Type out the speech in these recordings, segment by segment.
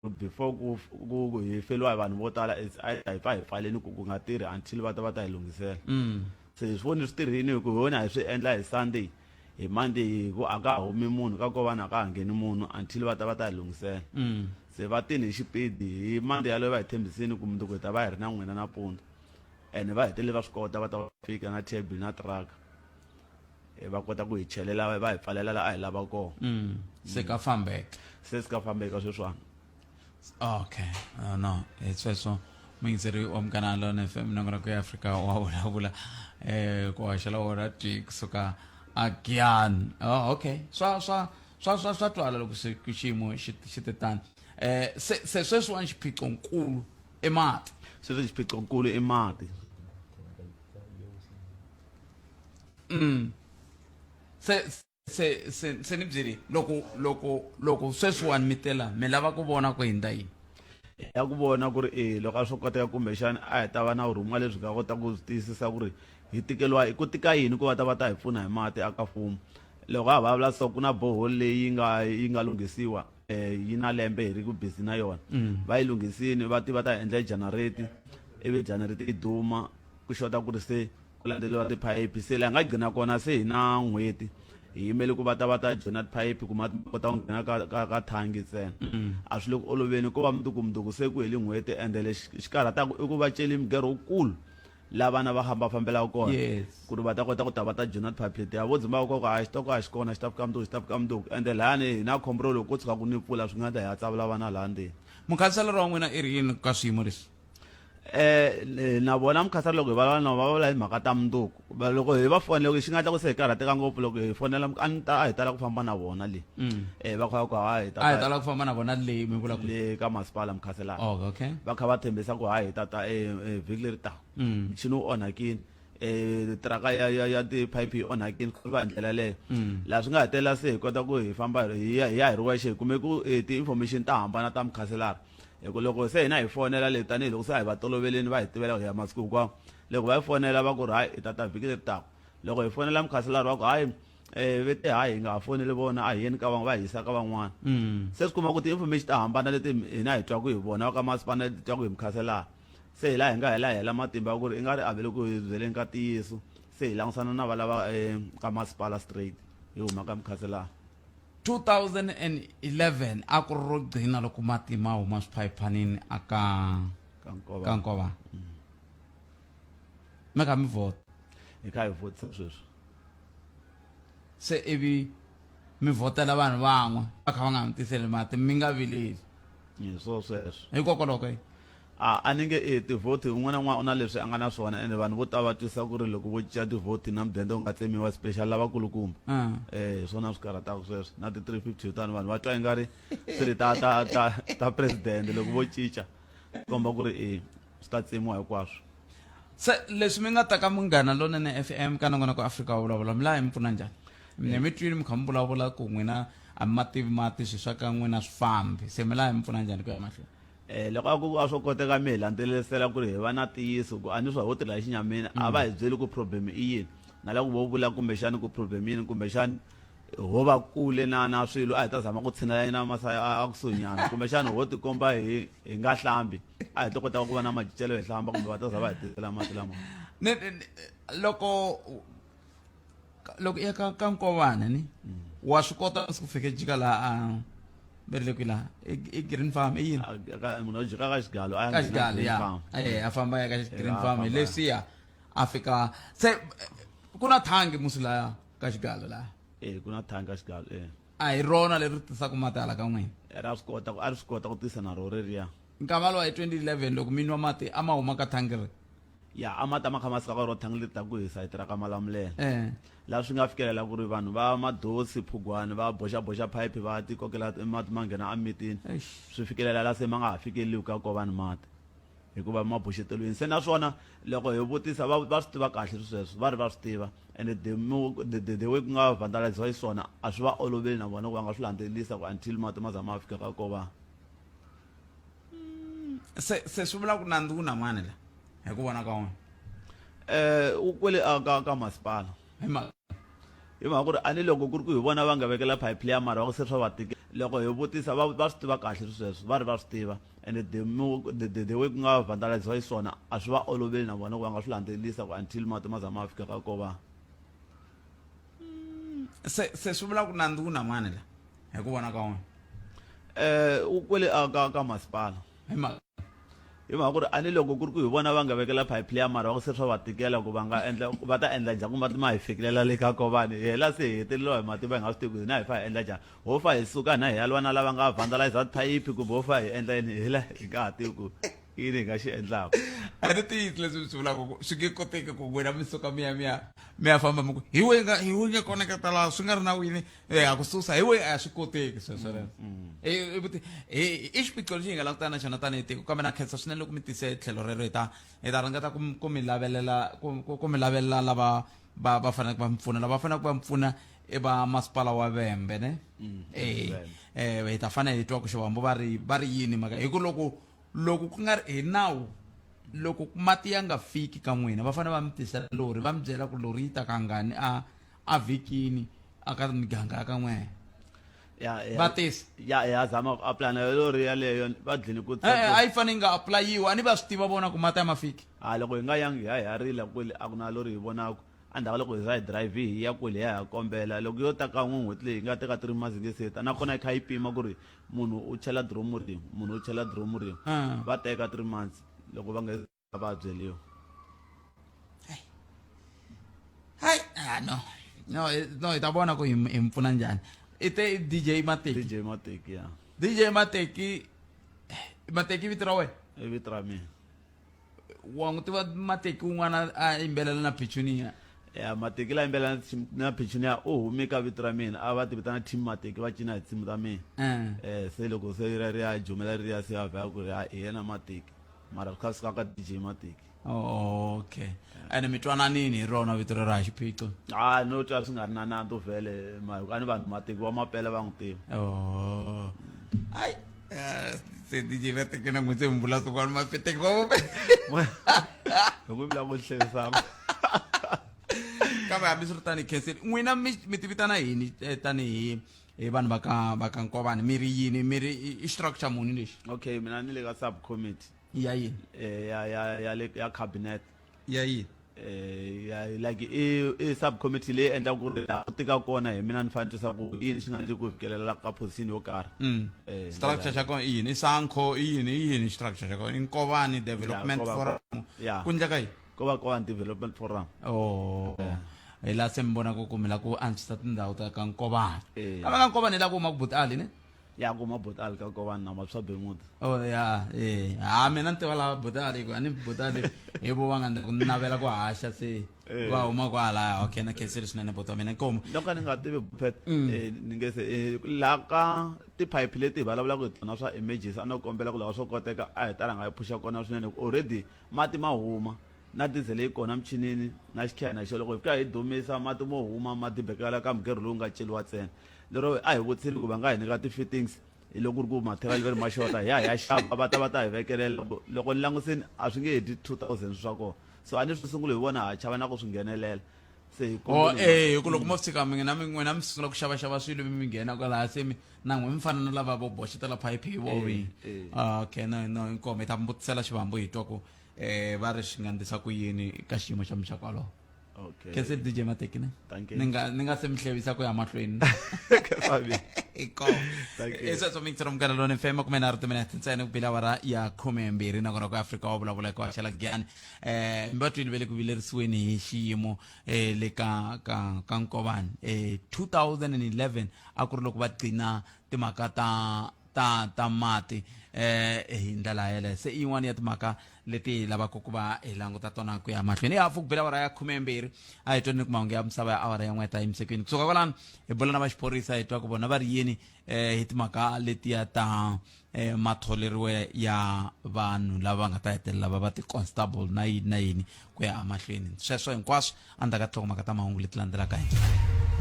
before ku ku hi feliwa hi vanhu vo tala it's either hi pfa hi pfaleni ku ku nga tirhi until va ta va ta hi lunghisela mm. se hi swi voni swi tirhini hi ku hi wona hi swi endla hi sunday hi monday hi ku a ka humi munhu ka ko vanhu a ka ha ngheni munhu until va ta va ta hi lunghisela mm. se va tini hi xipidi hi monday yaloyo va hi tshembisini ku mundzuku hi ta va hi ri na n'wina nampundzu and va hetelele va swi kota va ta va fika na table na truck eh, va kota ku hi chelela va hi pfalela la a hi lava kona mm. se ka fambeka se si ka fambeka sweswana okay uh, no hi sweswo muyingiseri wa mugana lona f m nongo ra ku ya afrika wa vulavula um ku hoxela wona twi kusuka agian oh, ah, okay swa swa swa swa swa twala loko xiyimo xi te tani um se se sweswiwani xiphiqo nkulu i mati sweswi xiphiqo nkulu i mati mm. se se se se ni byeli loko loko loko sweswiwani mi tela mi lava ku vona ku hindza yini ya ku vona ku ri e loko a swo koteka kumbexana a hi ta va na vurhumiwa lebyi nga kota ku tiyisisa ku ri hi tikeliwa ku tika yini ku va ta va ta hi pfuna hi mati aka fumo loko a vulavula so ku na bohol leyi nga yi nga lunghisiwa eh, yi na lembe hi ri ku busy na yona mm. va yi lunghisini va ti va ta endla janareti ivi janareti yi duma ku xota ku ri se ku landzeliwa tiphayiphi se laha nga gcina kona se hi na n'hweti hi yimele ku va ta va ta joyina tiphayiphi ku ma kota ku nghena ka ka ka thangi ntsena mm. a swi le ku oloveni ko va mudukumduku se ku heli n'hweti ende lexi xi karhataku i ku va celi migero wukulu la vana va famba fambelaka kona yes ku ri va ta kota ku ta va ta journal public ya vo dzimba koko a xi to ka a xi kona xi ta fika mundzuku xi ta fika mundzuku ende lani hi na khombo ro loko ko tshuka ku ni pfula swi nga ta hi ya tsavula vana laha ndzeni mukhanselara wa n'wina i ri yini ka swiyimo leswi eh na vona mukhansela loko hi valava na va vula hi mhaka ta mundzuku loko hi va fonela xi nga tla ku se hi karhateka ngopfu loko hi fonela a ni ta a hi tala ku famba na vona le mm. eh va kha ku ha hi ta a hi ta la ku famba na vona le mi vula ku le ka masipala mkhaselana oh okay va kha va tshembisa ku ha hi ta ta eh, eh vhiki leri ta mm. mchini u onhakini eh traka ya ya ya ti pipe onhakini ku va ndlela leyo mm. la swi nga hetela se hi kota ku hi famba hi ya hi ri wexe kume ku eh, ti information ta hambana ta mkhaselana hikuva loko se hina hi fonela le tanihiloko se a hi va toloveleni va hi tivela ku ya masiku hinkwawo loko va yi fonela va ku ri hayi hi tata vhiki leri taka loko hi fonela mukhaselari wa ku hayi eh ve te hayi hi nga ha foneli vona a hi yeni ka van'wana va hisa ka van'wana mm. se swi kuma ku ti-information ta hambana leti hina hi twaku hi vona va ka masipana leti twaku hi mikhaselana se hi laha hi nga hela hela matimba ya ku ri i nga ri avele ku hi byeleni ka ntiyiso se hi langutisana na valava eh, ka masipala straight hi huma ka mikhaselana 2011 a ku ri ro gcina loko matima a huma swiphayiphanini aka ka nkova mm. mi nga mi vhota hi kha hi vhotisa sweswi se ivi mi vhotela vanhu van'we va kha va nga mi tiseli mati mi nga vileli hi swo sweswo hikokwalaho ka yini a a ni nge e tivhoti un'wana na un'wana u na leswi a nga na swona ende vanhu vo tala va twisisa ku ri loko vo cinca tivhoti na mudende u nga tsemiwa special lavakulukumba um hi swona swi karhataka sweswo na ti-three fifty yotani vanhu va twa i nga ri swi ri ta ta ta ta presidente loko vo cinca komba ku ri i Swi ta tsemiwa hinkwaswo. Se leswi mi nga ta ka Munghana Lonene FM ka Nongonoko Afrika Wa Vulavula, mi lava hi mi pfuna njhani? Mina mi twile mi kha mi vulavula ku n'wina a mi ma tivi mati, swilo swa ka n'wina a swi fambi. Se mi lava hi mi pfuna njhani ku ya mahlweni? E, loko a ku a swo koteka mi hi landzelerisela ku ri hi va na ntiyiso ku a ni swa ho tirhela xinyamini, a va hi byeli ku problem i yini. Ni nga lava ku vo vula kumbexana ku problem i yini kumbexana ho va kule na na swilo a hi ta zama ku tshinela yena masaya a kusuhinyana kumbexana ho tikomba hi hi nga hlambi a hi to kota ku va na majicelo hi hlamba kumbe va ta za va hi tisela mati lama loko loko ya ka ka nkovana ni wa swi kota ku fike jika laha berile kwi laha i green farm i yini munhu jika ka xigalo a ka xigalo ya eh a famba ya ka green farm hi leswiya a fika se ku na thangi musi laya ka xigalo laha eh ku na thangi ka xigalo eh a hi rona leri tisaka mati hala ka n'wina eh, ra swi kota a ri swi kota ku tisa na ro reriya nkama lowa hi 2011 loko mi nwa mati a ma huma ka thangi ri ya a mati a ma kha ma suka ka ro thangi leri ta ku hisa hi tirha ka malamulela eh. laha swi nga fikelela ku ri vanhu va madosi phugwani va boxaboxa phayiphi va tikokela mati ma nghena emitini swi fikelela laha se ma nga ha fikeleliwi ka ko vanhu mati hikuva ma boxeteriwini se naswona loko hi vutisa va va swi tiva kahle sweswo va ri va swi tiva and the the way ku nga vandaliziwa xiswona a swi va oloveli na vona ku va nga swi landzelelisa ku until mati ma za ma fika ka ko va hmm, se se swi vula ku nandzu wu na mani la hi ku vona ka wona eh u kwele ka ka masipala hi mhaka hi mhaka ku ri ani loko ku ri ku hi vona va nga vekela pipe leya mara va ku se swa va tike loko hi vutisa va va swi tiva kahle sweswo va ri va swi tiva ende the more the, the, the way ku nga vandaliziwa hi swona a swi va oloveli na vona ku va nga swi landzelelisa ku until mati ma za ma fika ka ko va mm, se se swi vula ku nandzu ku na mani la hi ku vona ka wena eh u kwele ka ka masipala hi mhaka hi mhaka ku ri ani loko ku ri ku hi vona va nga vekela pipe leya mara va ku se swa va tikela ku va nga endla va ta endla njhani ku mati ma hi fikelela le ka kovani hi hela se hi heteleliwa hi mati va hi nga swi tivi ku hina hi fa hi endla njhani ho fa hi suka hina hi ya lwa na lava nga vandalizer thayiphi kumbe ho fa hi endla yini hi la hi nga ha tivi ku i yini hi nga xi endlaka a ni tiyisi leswi mi swi vulaka ku swi nge koteki ku n'wina mi suka mi ya mi ya mi ya famba mi ku hi we nga hi we nge koneketa laha swi nga ri na wini um ha ku susa hi we a swi koteki sweswoleswo mm, mm. i xiphiqo lexi hi nga la ku tana na xona tanihi tiko kambe na khensa swinene loko mi tise tlhelo rero hi ta hi ta ringeta ku mi lavelela ku mi lavelela lava va va faneleke va mi pfuna lava faneleke va mi pfuna i va masipala wa vembe ne mm, eh, eh, hi ta fanele hi twa ku xivambo va ri va ri yini maka hi ku loko loko ku nga ri hi nawu loko mati ya nga fiki ka n'wina va fanele va mi tisela lori va mi byela ku lori yi ta kangani a a vhikini aka miganga ya ka n'wena ya ya va tisa ya ya zama ku apply na yo lori yaleyo va dlini ku e-e a yi fanele yi nga aplayiwa a ni va swi tiva vona ku mata ya ma fiki ha loko hi nga yangi hi ya hi ya rila kule a ku na lori hi vonaku endzhaku ka loko hi za hi drive hi ya kule hi ya hi ya kombela loko yo ta kan'we n'hweti leyi hi nga teka three months hi nge se ta nakona yi kha yi pima ku ri munhu u chela diromu rin'we munhu u chela diromu rin'we Ah. va teka three months loko va nge a va byeliwa hayi ah, no no no hi ta vona ku hi mi pfuna njhani i te dj mateki dj mateki ya dj mateki eh, mateki vito ra wena i vito ra mina wa n'wi tiva mateki un'wana a yimbelela na pichunia ya mateki la yimbelela na pichunia u hume ka vito ra mina a va ti vitana team mateki va cina hi tsimu ta mina um se loko se ri ya jumela ri ya se ya vhela ku ri hi yena mateki mara ka sika ka dj matic oh, okay ene mi twananini hi rona vito rero ha xiphiqo ha no twa swi nga ri na nanto vhele mahikuva ni vanhu mateki wa mapele va n'wi tiva oh. ai eh, se dj va tekena n'wi se mbula swin'wana mapeteki va vope hi ku vula ku hlerisama kambe hambi swi ri tanihi khenseni n'wina mi tivitana yini eh, tanihi hi vanhu va ka va ka nkovani mi ri yini mi ri i- i xitiraka xa muni lexi okay mina ni le ka subcommittee ya yini eh, ya ya ya le ya cabinet ya yini eh, ya like i i subcommittee leyi endla ku ri laha ku tika kona hi mina ni fanele tisa ku yini xi nga ndzi ku fikelela ka position yo karhi Mm. Eh, structure xa kona i yini i sankho i yini i yini structure xa kona i nkovani development Nkoba- forum ya. ku endleka yini ko va ko development forum oh yeah. hi laha se mi vonaka ku mi la ku antswisa tindhawu ta ka nkovana eh. ka va ka nkovana hi la ku huma ku butali ne ya ku huma butali ka nkovana na mapswa bemuti o oh, ya e ha mina ni tiva lava butali ku a ni butali hi vo va nga ni navela ku haxa se eh. va huma kwalaya okay na khenseli swinene buti wa mina nkomo loko ni nga tivi bupet mm. eh, ni nge se laha ka tiphayiphi leti hi vulavulaka hi tona swa emergency a no kombela ku lava swo koteka a hi talanga hi phuxa kona swinene already Mati ma huma, na dizele yi kona michinini na xikhena xo loko hi fika hi dumisa, mati mo huma ma dibekela ka mugero lowu nga celiwa ntsena. Lero a hi vutiseni ku va nga hi nyika ti-fittings hi loko ku ri ku matheriyali va ri ma xota, hi ya hi ya xava va ta va ta hi vekelela. Loko loko ni langusini a swi nge he dyi two thousand swa kona. So a ni ri swi sungule hi vona ha chava na ku swi nghenelela. se hi o kombela- eh ku loko mo fika mi na mi n'wina mi sungula ku xava xava swilo mi mi nghena kwalaha se mi na n'we mi fana na lava vo boxetela phayiphi hi vovi eh. Ah, okay no no inkomo hi ta mi vutisela xivambo hi twa ku eh va ri swi nga ndisa ku yini ka xiyimo xa mi xa kwaloho okay kese dj matekine Thank you. ni nga ni nga se mi hlevisa ku ya mahlweni Fabio. inkomo Thank you. i sweswo mi ngi tsira mukana lone fm kume nharhu timinete ntsena ku bila awara ya khume mbirhi nakona ku afrika wa vulavula hi ku haxela giyani eh mbatwini ve le ku vilerisiweni hi xiyimo eh le ka ka ka nkovani eh 2011 a ku ri loko va gcina timhaka ta ta ta mati eh hi ndlela yeleyo se i yin'wana ya timhaka leti hi lavaka ku va hi languta tona ku ya mahlweni ya pfuku bela awara ya khumembirhi a hi tweni ni ku mahungu ya misava ya awara ya n'we ta yimisekweni kusuka kwalano hi bula na va xiphorisa hi twa ku vona va ri yini eh hi timhaka letiya ta e, matholeriwe ya vanhu lava nga ta hetelela va va ti-constable na yini na yini ku ya amahlweni sweswo hinkwaswo a ndzaka tinhlokomhaka ta mahungu leti landzelaka hi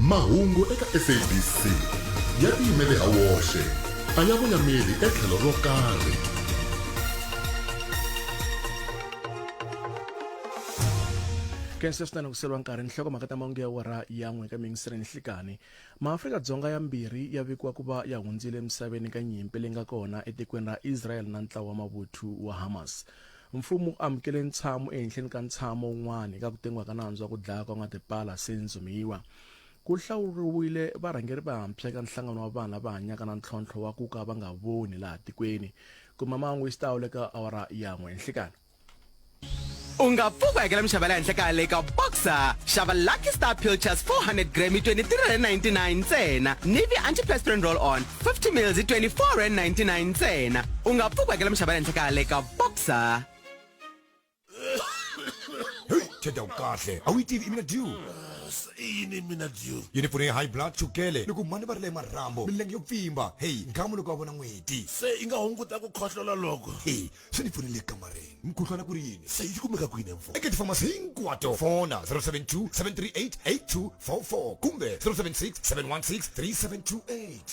mahungu eka sabc ya tiyimele ha woxe a ya voyameli etlhelo ro karhi kensesitani ku selwa nkarhi nhlokomhaka ta mahungu ya wara ya n'we ka mingisire nhlikani Maafrika-Dzonga yambirhi ya vikiwa ku va ya hundzile emisaveni ka nyimpi leyi nga kona etikweni ra Israel na ntlawa wa mavuthu wa Hamas. Mfumo wu amukele ntshamo ehenhleni ka ntshamo wun'wana eka ku tengiwa ka nandzu wa ku dlaya kwa n'wa tipala Sean Zumiwa. Ku hlawuriwile varhangeri vantshwa eka nhlangano wa vanhu lava hanyaka na ntlhontlho wa ku ka va nga voni laha tikweni. Kuma mahungu hi xitalo eka awara ya n'we enhlikani. u nga pfi ku hakela minxavo ya le henhla ka le ka boxer xava lucky star pilchers 400 gram hi 23.99 ntsena nivi antiperspirant roll on 50 mils hi 24.99 ntsena u nga pfi ku hakela minxavo ya le henhla ka le ka boxer heyi tsheda kahle a wu yi tivi imina due yini mina due yi ni pfune hi high blood chukele ni ku mani va ri le marhambo milenge yo pfimba heyi nkhamu loko va vona n'weti se yi nga hunguta ku khohlola loko heyi se ni pfunile kamareni mukhuhlwana ku ri yini se yi kumeka kwini mfo eka tifamasi hinkwato fona 072 738 8244 kumbe 076 716 3728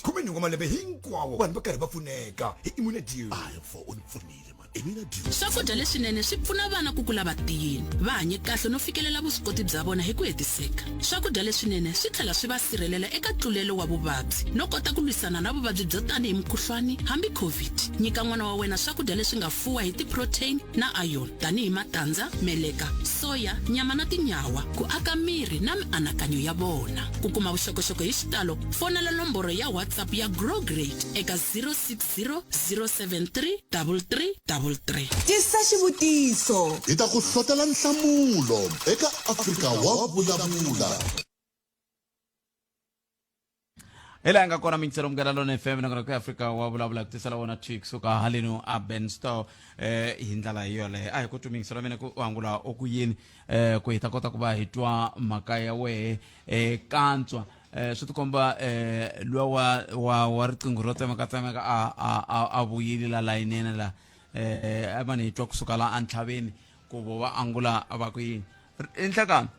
khumenhungu wa malembe hinkwawo vanhu va karhi va pfuneka hi imune deal ayi mfo u ni pfunile mani imina deal swakudya leswinene swi pfuna vana ku kula va tiyile va hanye kahle no fikelela vuswikoti bya vona hi ku hetiseka Swakudya leswinene swi tlhela swi va sirhelela eka tlulelo wa vuvabyi no kota ku lwisana na vuvabyi byo tanihi mukhuhlwani hambi COVID. Nyika n'wana wa wena swakudya leswi nga fuwa hi ti-protein na iron tanihi matandza, meleka, soya, nyama na tinyawa ku aka miri na mianakanyo ya vona. Ku kuma vuxokoxoko hi xitalo fonela nomboro ya WhatsApp ya Grow Great eka 06 073 tisa xivutiso hi ta ku hlotela nhlamulo eka afrika wa vulavula hi laha nga kona mintsero mukela lona fm nakona ku afrika wa vulavula ku tisela wona twi kusuka haleni aben store eh hi ndlela yoleyo a hi ku tumingiso ra mina ku angula oku yini eh ku hi ta kota ku va hi twa mhaka ya wehe eh kantswa eh, swi tikomba eh, luwa wa, wa, wa riqingho ro tsemekatsemeka a, a, a, a vuyile la layinene la eh, a va ni twa kusuka la entlhaveni ku vo va angula va ku yini R- i nhlekani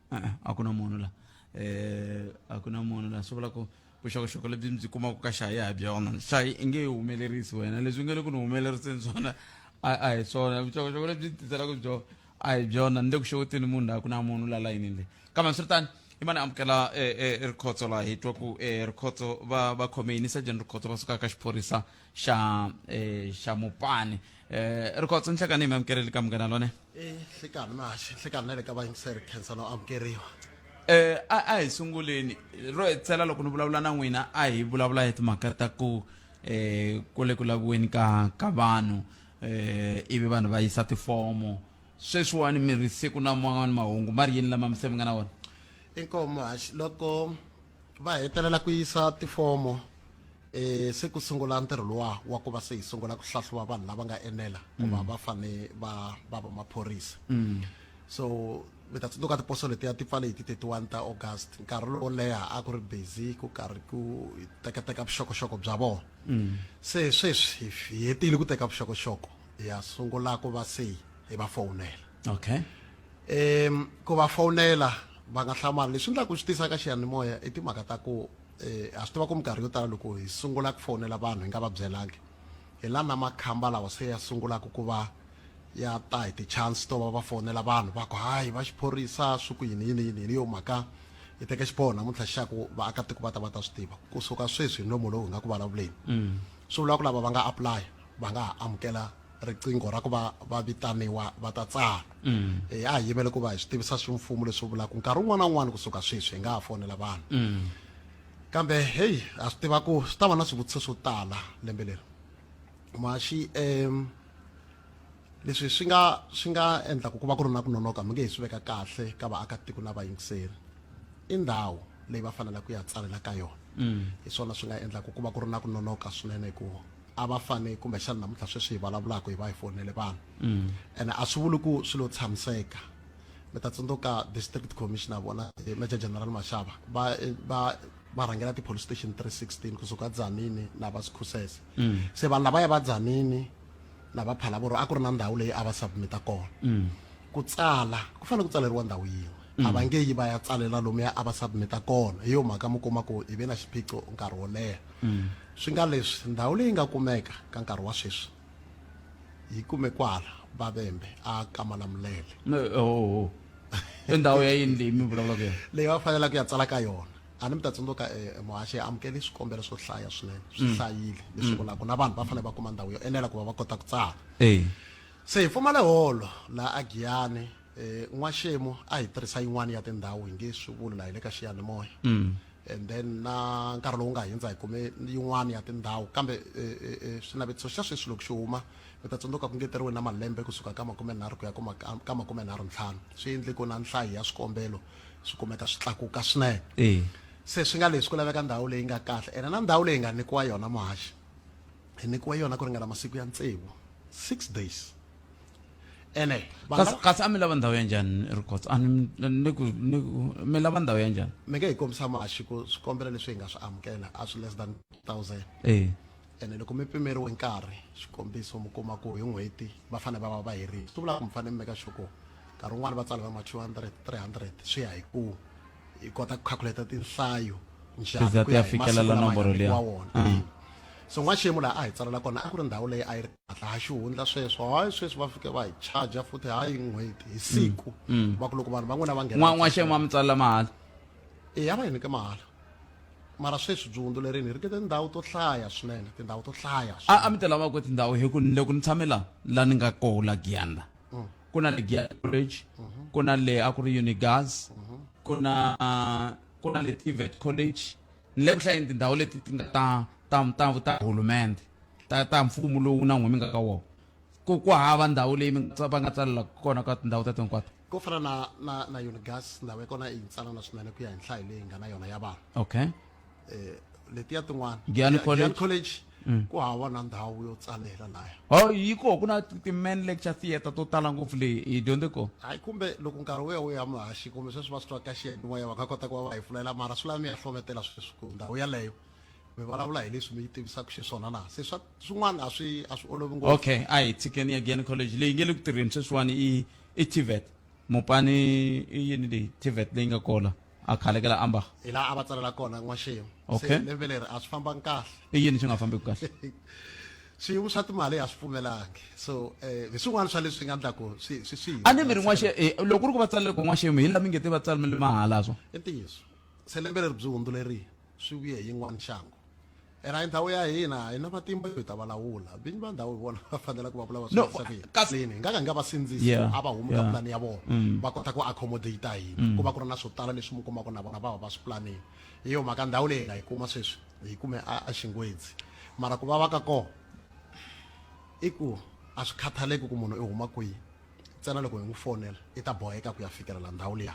Eh, a ku na munhu la eh, a ku na munhu la swi vula ku vuxokoxoko lebyi mi byi kumaka ka hlayi ha byona hlayi i nge yi humelerisi wena leswi u nge le ku ni humeleriseni swona a a hi swona vuxokoxoko lebyi tiselaka byo a hi byona ni le ku xeweteni munhu laha ku na munhu la layinini leyi kambe swiritani i mani amukela e, e, rikhotso laha hi twa ku e, rikhotso va va khome yini sajeni rikhotso va sukaka xiphorisa xa eh, xa mupani eh, ri kotsa nhlekani hi mi amukerile ka munghana lone Eh, hlekani mashi hlekani na le ka vayingiseri khensa no amukeriwa Eh, a a hi sunguleni ro hetsela loko ni vulavula na n'wina a hi vulavula hi timhaka ta ku eh ku le ku laviweni ka ka vanhu eh ivi vanhu va yisa tifomo sweswiwani mi ri siku na man'wani mahungu ma ri yini lama mi se mi nga na wona inkomo hashi loko va hetelela ku yisa tifomo e se ku sungula ntirho luwa wa ku va se hi sungula ku hlahluva vanhu lava nga enela ku va mm. va fane va va va maphorisa mm. so mi ta tsundzuka tiposo letiya ti pfale hi ti-31 ta august nkarhi lowo leha a ku ri busy ku karhi ku tekateka vuxokoxoko bya vona mm. se sweswi hi hetile ku teka vuxokoxoko hi ya sungula ku va se hi va fowunela okay um ku va fowunela va nga hlamali leswi endlaka ku swi tisa ka xiyanimoya i timhaka ta ku ha swi tiva ku minkarhi yo tala loko hi sungula ku fonela vanhu hi nga va byelangi hi la na makhamba lawa se ya sungulaka ku va ya ta hi ti-chance to va va fonela vanhu va ku hayi va xiphorisa swi ku yini yini yini yini yo mhaka hi teke xiboho namuntlha xa ku vaakatiko va ta va ta swi tiva kusuka sweswi hi nomo lowu hi nga ku vulavuleni swi vula ku lava va nga apply va nga ha amukela riqingho ra ku va va vitaniwa va ta tsala mm. eh, a hi yimele ku va hi swi tivisa swimfumo leswi vulaka nkarhi wun'wana na wun'wana kusuka sweswi hi nga ha fonela vanhu mm. kambe heyi a swi tiva ku swi ta va na swivutiso swo tala lembe leri maxi um leswi swi nga swi nga endlaka ku va ku ri na ku nonoka mi nge hi swi veka kahle ka vaakatiko na vayingiseri i ndhawu leyi va faneleke ku ya tsalela ka yona mm. hi swona swi nga endlaka ku va ku ri na ku nonoka swinene hikuva a va fane kumbexana namuntlha sweswi hi vulavulaka hi va hi fonele vanhu mm. ene a swi vuli ku swi lo tshamiseka mi ta tsundzuka district commissioner vona eh, major general mashava va eh, va va rhangela ti-police station 316 kusuka dzanini na va sikhusese mm. se vanhu lava ya va dzanini na va phalavoro a ku ri na ndhawu leyi a va submita kona mm. ku tsala ku fanele ku tsaleriwa ndhawu yin'we a va nge yi va ya tsalela lomuya a va submita kona hi yo mhaka mi kuma ku hi ve na xiphiqo nkarhi wo leha mm. swi nga leswi ndhawu leyi nga kumeka ka nkarhi wa sweswi yi kume kwala vavembe a kamana mulele oh, i ndhawu ya yini leyi mi vulavulaka yona leyi va fanelaka ku ya tsala ka yona a ni mi ta tsundzuka eh, eh, muhaxi ya amukeli swikombelo swo hlaya swinene swi mm. hlayile leswi mm. vulaka na vanhu va fanele va kuma ndhawu yo enela ku va va kota ku tsala se hi pfumale holo laha a giyani N'waxemu a hi tirhisa yin'wana ya tindhawu hi nge swi vuli laha hi le ka xiyanimoya and then na nkarhi lowu nga hindza hi kume yin'wana ya tindhawu kambe xinavetiso xa sweswi loko xi huma mi ta tsundzuka ku ngeteriwe na malembe kusuka ka makumenharhu ku ya ka makumenharhu ntlhanu swi endle ku na nhlayo ya swikombelo swi kumeka swi tlakuka swinene se swi nga leswi ku laveka ndhawu leyi nga kahle ene na ndhawu leyi nga nyikiwa yona muhaxi hi nyikiwe yona ku ringana masiku ya tsevu six days. ene va kasi nga- kasi a mi lava ndhawu ya njhani rikots a ni ni ku ni ku mi lava ndhawu ya njhani mi nge hi kombisa maxi ku swikombelo leswi hi nga swi amukela a swi less than thousand eh ene loko mi pimeriwe nkarhi xikombiso mi kuma ku hi n'hweti va fanele va va va herile swi vula ku mi fanele mi meka xoko nkarhi wun'wani va tsala va ma 200 300 swi ya hi ku hi kota ku calculate tinhlayo njhani ku ya hi masiku lama hi nyikiwa wona mm. so n'waxiyimo laha a hi tsalela kona a ku ri ndhawu leyi a yi ri kahle ha xihundla sweswo hayi sweswi va fike va hi charger futhi hayi n'hweti hi mm. siku mm. va ku loko vanhu van'wina va nghenan'waxiyimo a mi tsalela mahala e ya va hi nyike mahala mara sweswi byi hundzuleriwini hi ri ke tindhawu to hlaya swinene tindhawu to hlaya a mi ti lava ku tindhawu hi ku loko ni tshame la la ni nga koho la giyani la ku na le Giant College ku na le a ku ri Unigas ku na ku na le Tivet College ni le ku hlayeni tindhawu leti ti nga ta ta ta ta hulumende ta ta mfumo lowu na n'wimi nga ka wona ku ku hava ndhawu leyi mi nga va nga tsalela kona ka tindhawu ta hinkwato ko fana na na na Unigas ndhawu ya kona i yintsanana swinene ku ya hi nhlayo leyi nga na yona ya vanhu okay eh, letiya tin'wana Giyani College. college mm. ku hava na ndhawu yo tsalela laya oh yi koho ku na ti-man lecture theatre to tala ngopfu leyi hi dyondze koho hayi kumbe loko nkarhi wu ya wu ya muhaxi kumbe sweswi va swi twa ka xiyanimoya va nga kota ku va va hi pfulela mara swi lava mi ya hlometela sweswi ku ndhawu yaleyo mi vulavula hi leswi mi yi tivisaka xiswona na se swa swin'wana a swi a swi olovi ngopfu okay a hi tshikeni ya giyani college leyi nge le ku tirheni sweswiwani i i tvet mopani i yini leyi tvet leyi nga kona a khalekela amba hi laha a va tsalela kona n'waxemu Okay. se lembe leri a swi fambangi kahle i yini swi nga fambeki kahle swiyimo swa timali a swi pfumelangi so eh, hi swin'wana swa leswi nga endlaku swi swi swi a ni mi ri n'waxe eh, loko u ri ku va tsalele ku n'waxemu hi la mi nge te va tsalimele mahala swo i ntiyiso se lembe leri byi hundzulerile swi vuye hi yin'wana nxangu ene a hi ndhawu ya hina a hi na matimba yo hi ta va lawula vinyi va ndhawu hi vona va fanela ku va vula va swi No, kotisa ku yini kasi- Plane, hi nga ka hi nga va sindzisi Yeah, a va humi ka yeah. pulani ya vona Mm. va kota ku accommodate hina ku va ku ri na swo tala leswi mi kumaka na vona va va va swi planile hi yo mhaka ndhawu leyi hi nga yi kuma sweswi hi yi kume a a xingwedzi mara ku va va ka kona i ku a swi khathaleki ku munhu i huma kwihi ntsena loko hi n'wi fonela i ta boheka ku ya fikelela ndhawu liya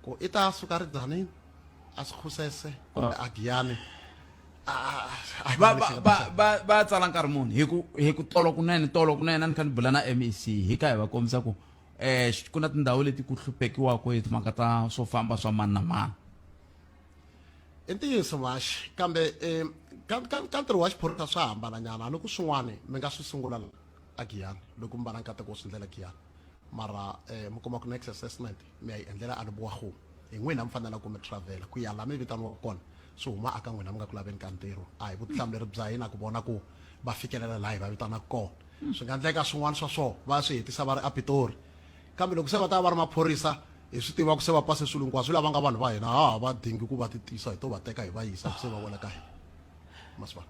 ku i ta suka ridzanini a swi khusese kumbe a giyane va tsala nkarhi muni hi ku hi ku tolo kunene tolo kunene a ni kha ni bula na mec hi ka hi va kombisa ku um ku na tindhawu leti ku hluphekiwaka hi timhaka ta swo famba swa mani na mani i ntiyiso maxi kambe um ka ntirho wa xiphorisa swa hambananyana loko swin'wana mi nga swi sungula a giyani loko mi va na nkateko wo swi ndlela giyani Mara eh, mi kuma ku next assessment mi ya yi endlela a ni boha ku hi n'wina mi fanela ku mi travela ku ya laha mi vitaniwaka kona swi huma aka n'wina mi nga ku laveni ka ntirho a hi vutihlamuleri bya hina ku vona ku va fikelela laha hi va vitanaka kona swi nga endleka swin'wana swa swona va ya swi hetisa va ri a pitori kambe loko se va ta va va ri maphorisa hi swi tiva ku se va pase swilo hinkwaswo lava nga vanhu va hina ha ha va dingi ku va ti tisa hi to va teka hi va yisa ku se va wela ka hina masipala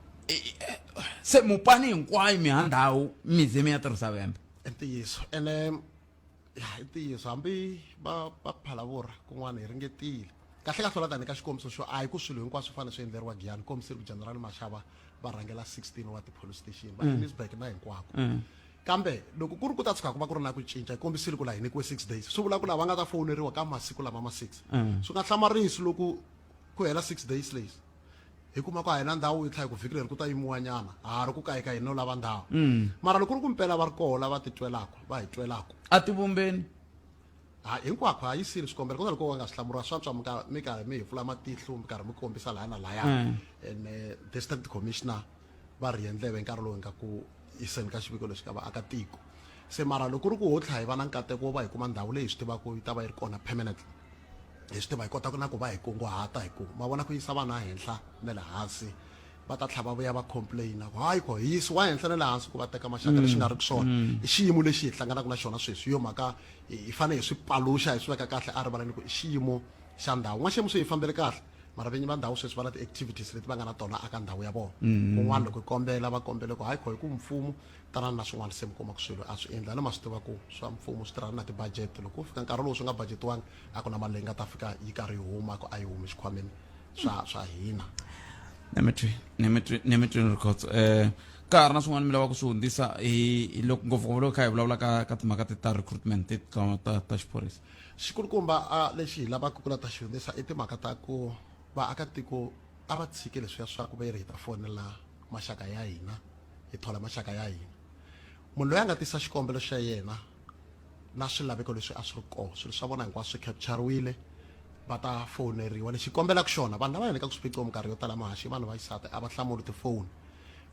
se mupani hinkwayo mihandhawu mi ze mi ya tirhisa vembe i ntiyiso ene ya i ntiyiso hambi va va ku phalavurha kun'wana hi ringetile kahle kahle la tani ka xikombiso xo a hi ku swilo hinkwaswo swi fanele swi endleriwa giyani kombise ri ku general mashava va rhangela 16 wa ti-police station va elizburg na hinkwako kambe loko ku ri ku ta tshuka ku va ku ri na ku cinca hi kombisile ku la hi nyikiwe six days swi vula ku lava nga ta fowuneriwa ka masiku lama ma six swi nga hlamarisi loko ku hela six days lays hi kuma ku a hi na ndhawu yi tlha hi ku vhiki leri ku ta yimiwa nyana ha ha ri ku kayikayini no lava ndhawu mm. mara loko ri ku mpela va ri koho lava titwelaka va hi twelaka a tivumbeni ha hinkwako ha yisile swikombelo kona loko wa nga swi hlamuriwa swantswa mi ka mi karhi mi hi pfula matihlo mi karhi mi kombisa laya na laya mm. and eh, district commissioner va rhiye ndleve nkarhi lowu hi nga ku yiseni ka xiviko lexi ka vaakatiko se mara loko ri ku ho tlha hi va na nkateko wo va hi kuma ndhawu leyi hi swi tivaka yi ta va yi ri kona permanently hi swi tiva hi kota na ku va hi kunguhata hi ku ma vona ku yisa vanhu ehenhla na le hansi va ta tlhava vuya va complaina ku hayi ko hi yisiwa henhla na le hansi ku va teka maxaka lexi nga ri ku swona mm. i xiyimo lexi hi hlanganaka na xona sweswi yo mhaka hi fanele hi swi paluxa hi swi veka kahle a rivaleni ku i xiyimo xa ndhawu n'waxemu swi hi fambele kahle mara vinyi va ndhawu sweswi va na ti-activities leti va nga na tona aka ndhawu ya vona mm-hmm. kun'wana loko hi kombela va kombele ku hayi kho hi ku mfumo tanani na swin'wana se mi kuma ku swilo a swi endla ni ma swi tiva ku swa mfumo swi tirhana na ti-budget loko ku fika nkarhi lowu swi nga budgetiwangi a ku na mali leyi nga ta fika yi karhi yi huma ku a yi humi xikhwameni swa swa hina nemitwi nemitwi nemitwi rikhotso um eh, ka ha ri na swin'wana mi lavaka ku swi hundzisa hi loko ngopfungopfu loko kha hi vulavula ka ka timhaka ta recruitment ta ta xiphorisa Xikulukumba a lexi hi lavaka ku la ta xi hundzisa i timhaka ta ku vaakatiko a va tshike leswiya swa ku ve ri hi ta fonela maxaka ya hina, hi thola maxaka ya hina. Munhu loyi a nga tisa xikombelo xa yena na swilaveko leswi a swi ri kona, swilo swa vona hinkwaswo swi khepchariwile, va ta fowuneriwa. Lexi hi kombelaka xona, vanhu lava endlekaka swiphiqo minkarhi yo tala, mahaxi, vanhu va xisati a va hlamuli tifoni.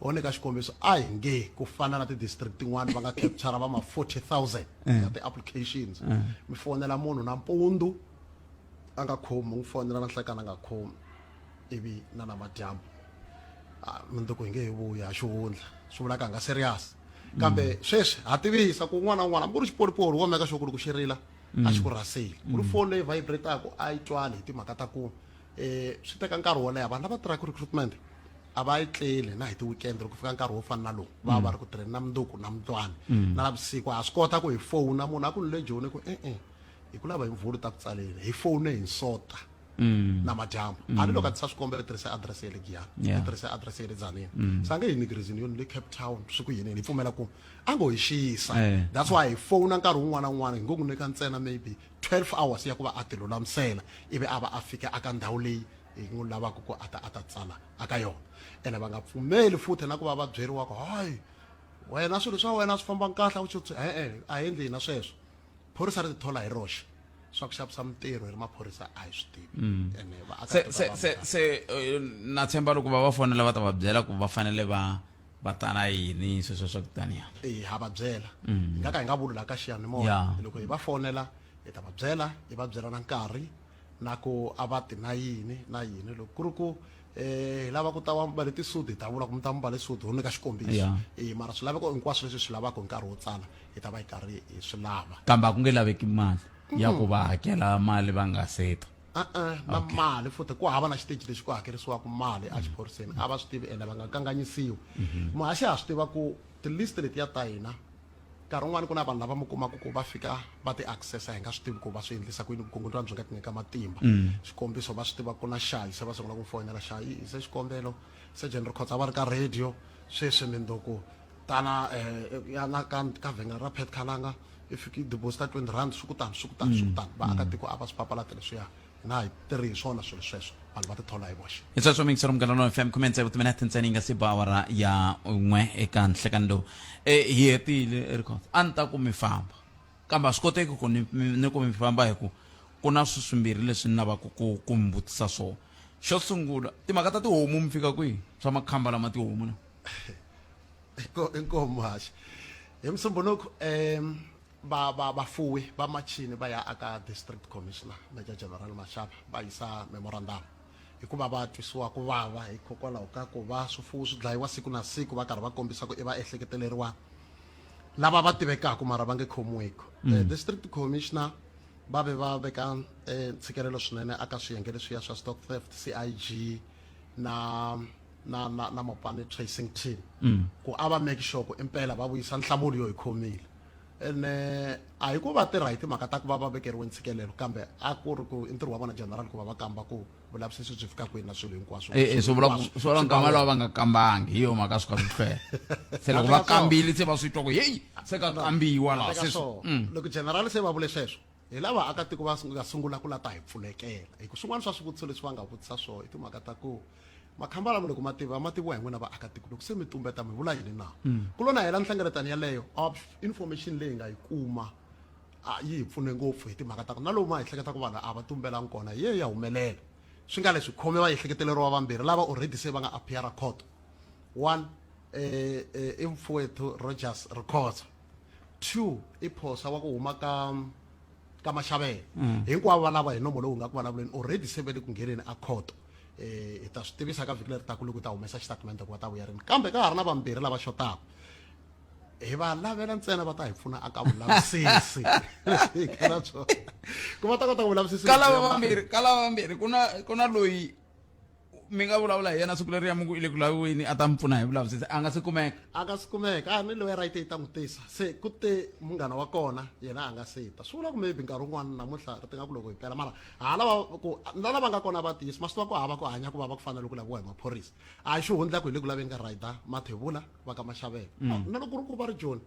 Or nyika xikombiso a hi nge ku fana na ti-district tin'wana va nga capture va ma 40,000 ya ti-applications mi fonela munhu nampundzu a nga khomi n'wi fonela na nhlekani a nga khomi ivi na namadyambu Ah, mundzuku hi nge hi vuya ha xihundla swi vulaka hi nga serious kambe sweswi ha tivisa ku un'wana na un'wana hambi ku ri xipolipoli wo meka sure ku ri ku xi rila a xi ku rhaseli ku ri foni leyi vibrataku a yi twali hi timhaka ta ku um swi teka nkarhi wo leha vanhu lava tirhaka recruitment a va yi tleli na hi ti-weekend loko fika nkarhi wo fana na lowu va va ri ku tirheni na mundzuku na mundlwana na lavusiku ha swi kota ku hi fowuna munhu a ku ni le joni ku e-e hi ku lava hi mvulu ta ku tsaleni hi fowune hi nsota na madyambu a ni loko a tisa swikombelo tirhisa adirese ya le giyani Yeah. ni tirhisa adirese ya le dzanini se a nge hi nyiki reason yo ni le cape town swi ku yini hi pfumela ku a ngo hi xiyisa Eh. that's why hi fowuna nkarhi wun'wana na wun'wana hi ngo n'wi nyika ntsena maybe 12 hours ya ku va a tilulamisela ivi a va a fike aka ndhawu leyi hi n'wi lavaka ku a ta a ta tsala aka yona ene va nga pfumeli futhi na ku va va byeriwa ku hayi wena swilo swa wena swi famba kahle u tsutsu e-e a hi endli hina sweswo phorisa ri tithola hi roxe swa ku xavisa mintirho hi ri maphorisa a hi swi tivi mm. ene se se se se eh, na tshemba loko va va fonela va ta va byela ku va fanele va va tana yini sweswo swa ku taniya e ha va byela hi mm. nga ka hi nga vuli laha ka xiyanimoya loko hi va fonela hi ta va byela hi va byela na nkarhi na ku a va ti na yini na yini loko ku ri ku eh hi lava ku ta va mi mbale tisudi hi ta vula ku mi ta mi mbale sudi ho nyika xikombiso e mara swilaveko hinkwaswo leswi swi lavaka hi nkarhi wo tsala hi ta va hi karhi hi swi lava kambe a ku nge laveki mali ya ku va hakela mali va nga seta a-a na mali futhi ku hava na xiteji lexi ku hakerisiwaka mali a xiphoriseni a va swi tivi ene va nga kanganyisiwi muhaxi ha swi tiva ku tilist letiya ta hina nkarhi un'wana ku na vanhu lava mi kumaka ku va fika va ti accessa hi nga swi tivi ku va swi endlisa ku yini vukungundzwana byi nga ti nyika matimba xikombiso va swi tiva ku na xayi se va sungula ku mi foyinela xayi i se xikombelo surgeon ri khotsa va ri ka radio sweswi mi ndo ku tana um ya la ka ka vhengele ra pet khalanga i fiki yi deposit-a twenty rand swi ku tani swi ku tani swi ku tani vaakatiko a va swi papalati leswiya hi nga ha tirhi hi swona swilo sweswo vanhu va tithola hi voxe hi sweswo mingisero munghana lonene fm khume ntsevu timinete ntsena yi nga si ba awara ya n'we eka nhlekani lowu e hi hetile ri khotsa a ni ta ku mi famba kambe a swi koteki ku ni mi- ni ku mi famba hi ku ku na sweswimbirhi leswi ni lavaka ku ku mi vutisa swona xo sungula timhaka ta tihomu mi fika kwihi swa makhamba lama tihomu na inkomo haxi hi musumbunuku um va va vafuwi va machini va ya aka district commissioner major general mashava va yisa memorandum hikuva va twisiwa ku vava hikokwalaho ka ku va swifuwo swi dlayiwa siku na siku va karhi va kombisa ku i va ehleketeleriwa lava va tivekaka mara va nge khomiweki mm. eh, district commissioner Va ve va veka ntshikelelo swinene aka swiyenge leswiya swa stock theft, CIG na na na na Mopane tracing team ku a va make sure ku impela va vuyisa nhlamulo yo hi khomile ene a hi ku va tirha hi timhaka ta ku va va vekeriwe ntshikelelo kambe a ku ri ku i ntirho wa vona general ku va va kamba ku vulavisisi byi fika kwini na swilo hinkwaswo e, e, swi vula swi vula nkama lava va nga kambangi hi yo mhaka swi kha swi hlwela se loko va kambile se va swi twa ku heyi se ka kambiwa laha se mm. loko general se va vule sweswo hi lava akatiko va nga sungula ku la ta hi pfulekela hi ku swin'wana swa swivutiso leswi va nga vutisa swona i timhaka ta ku makhamba lama loko mativa ma tiviwa hi n'wina vaakatiko loko se mi tumbeta mi vula yini na mm. ku lona hela nhlengeletano yaleyo of information leyi nga yi kuma a yi hi pfune ngopfu hi timhaka ta ku na lomu a hi hleketa ku vanhu a va tumbelangi kona hi ye ya humelela swi nga leswi khome vaehleketeleriwa vambirhi lava already se va nga appeara court one eh, eh, i mfowethu rogers rikhotsa two i phosa wa ku huma ka ka maxavela mm. hinkwavo valava hi nomo lowu nga ku vulavuleni already se ve le ku ngheneni a court eh hi ta swi tivisa ka vhiki leri taku loko ta humesa xitatimende ku va ta vuya rini kambe ka ha ri na vambirhi lava xotaka hi va lavela ntsena va ta hi pfuna aka vulavisisi leswi hi na swona ku va ta kota vulavisisi ka lava vambirhi ka lava vambirhi ku na ku na loyi mi nga vulavula hi yena siku leri ya muku i le ku laviweni a ta mi pfuna hi vulavisisi a nga si kumeka a nga si kumeka a ni loyi right yi ta n'wi tisa se ku te munghana wa kona yena a nga si ta swi vula ku maybe nkarhi wun'wana namuntlha ri tinga ku loko hi pela mara ha lava ku na lava nga kona va tiyisi masiku va ku hava ku hanya ku va va ku fanele ku laviwa hi maphorisa a xi hundla ku hi le ku laveni ka rider mathevula va ka maxavelo mm. na loko ri ku va ri joni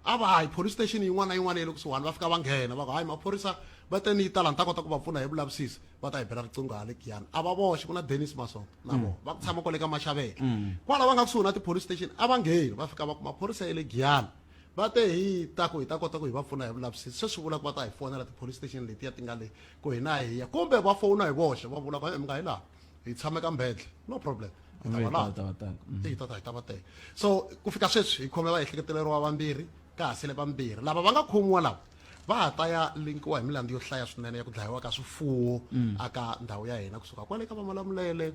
a va hayi police station yin'wana na yin'wana ya le kusuhani va fika va nghena va ku hayi maphorisa va te ni yi tala ni ta kota ku va pfuna hi vulavisisi va ta hi bela riqingho ya le giyani a va voxe ku na denis masonga na mm. vona va ku tshama kwale ka maxavelo mm. kwala va nga kusuhi na tipolice station a va ngheni va fika va ku maphorisa ya le giyani va te hi ta ku hi ta kota ku hi va pfuna hi vulavisisi se swi vula ku va ta hi fonela tipolice station letiya ti nga le ku hina hi ya kumbe va fona hi voxe va vula ku mi nga hi laha hi tshame ka mbhendle no problem hi ta va laha hi ta va tele mm. hi ta ta hi ta va tele so ku fika sweswi hi khome va ehleketeleriwa vambirhi ka ha sele vambirhi lava va nga khomiwa lawa va ha ta ya linkiwa hi milandzu yo hlaya swinene ya ku dlayiwa ka swifuwo mm. aka ndhawu ya hina kusuka kwale ka vamalamulele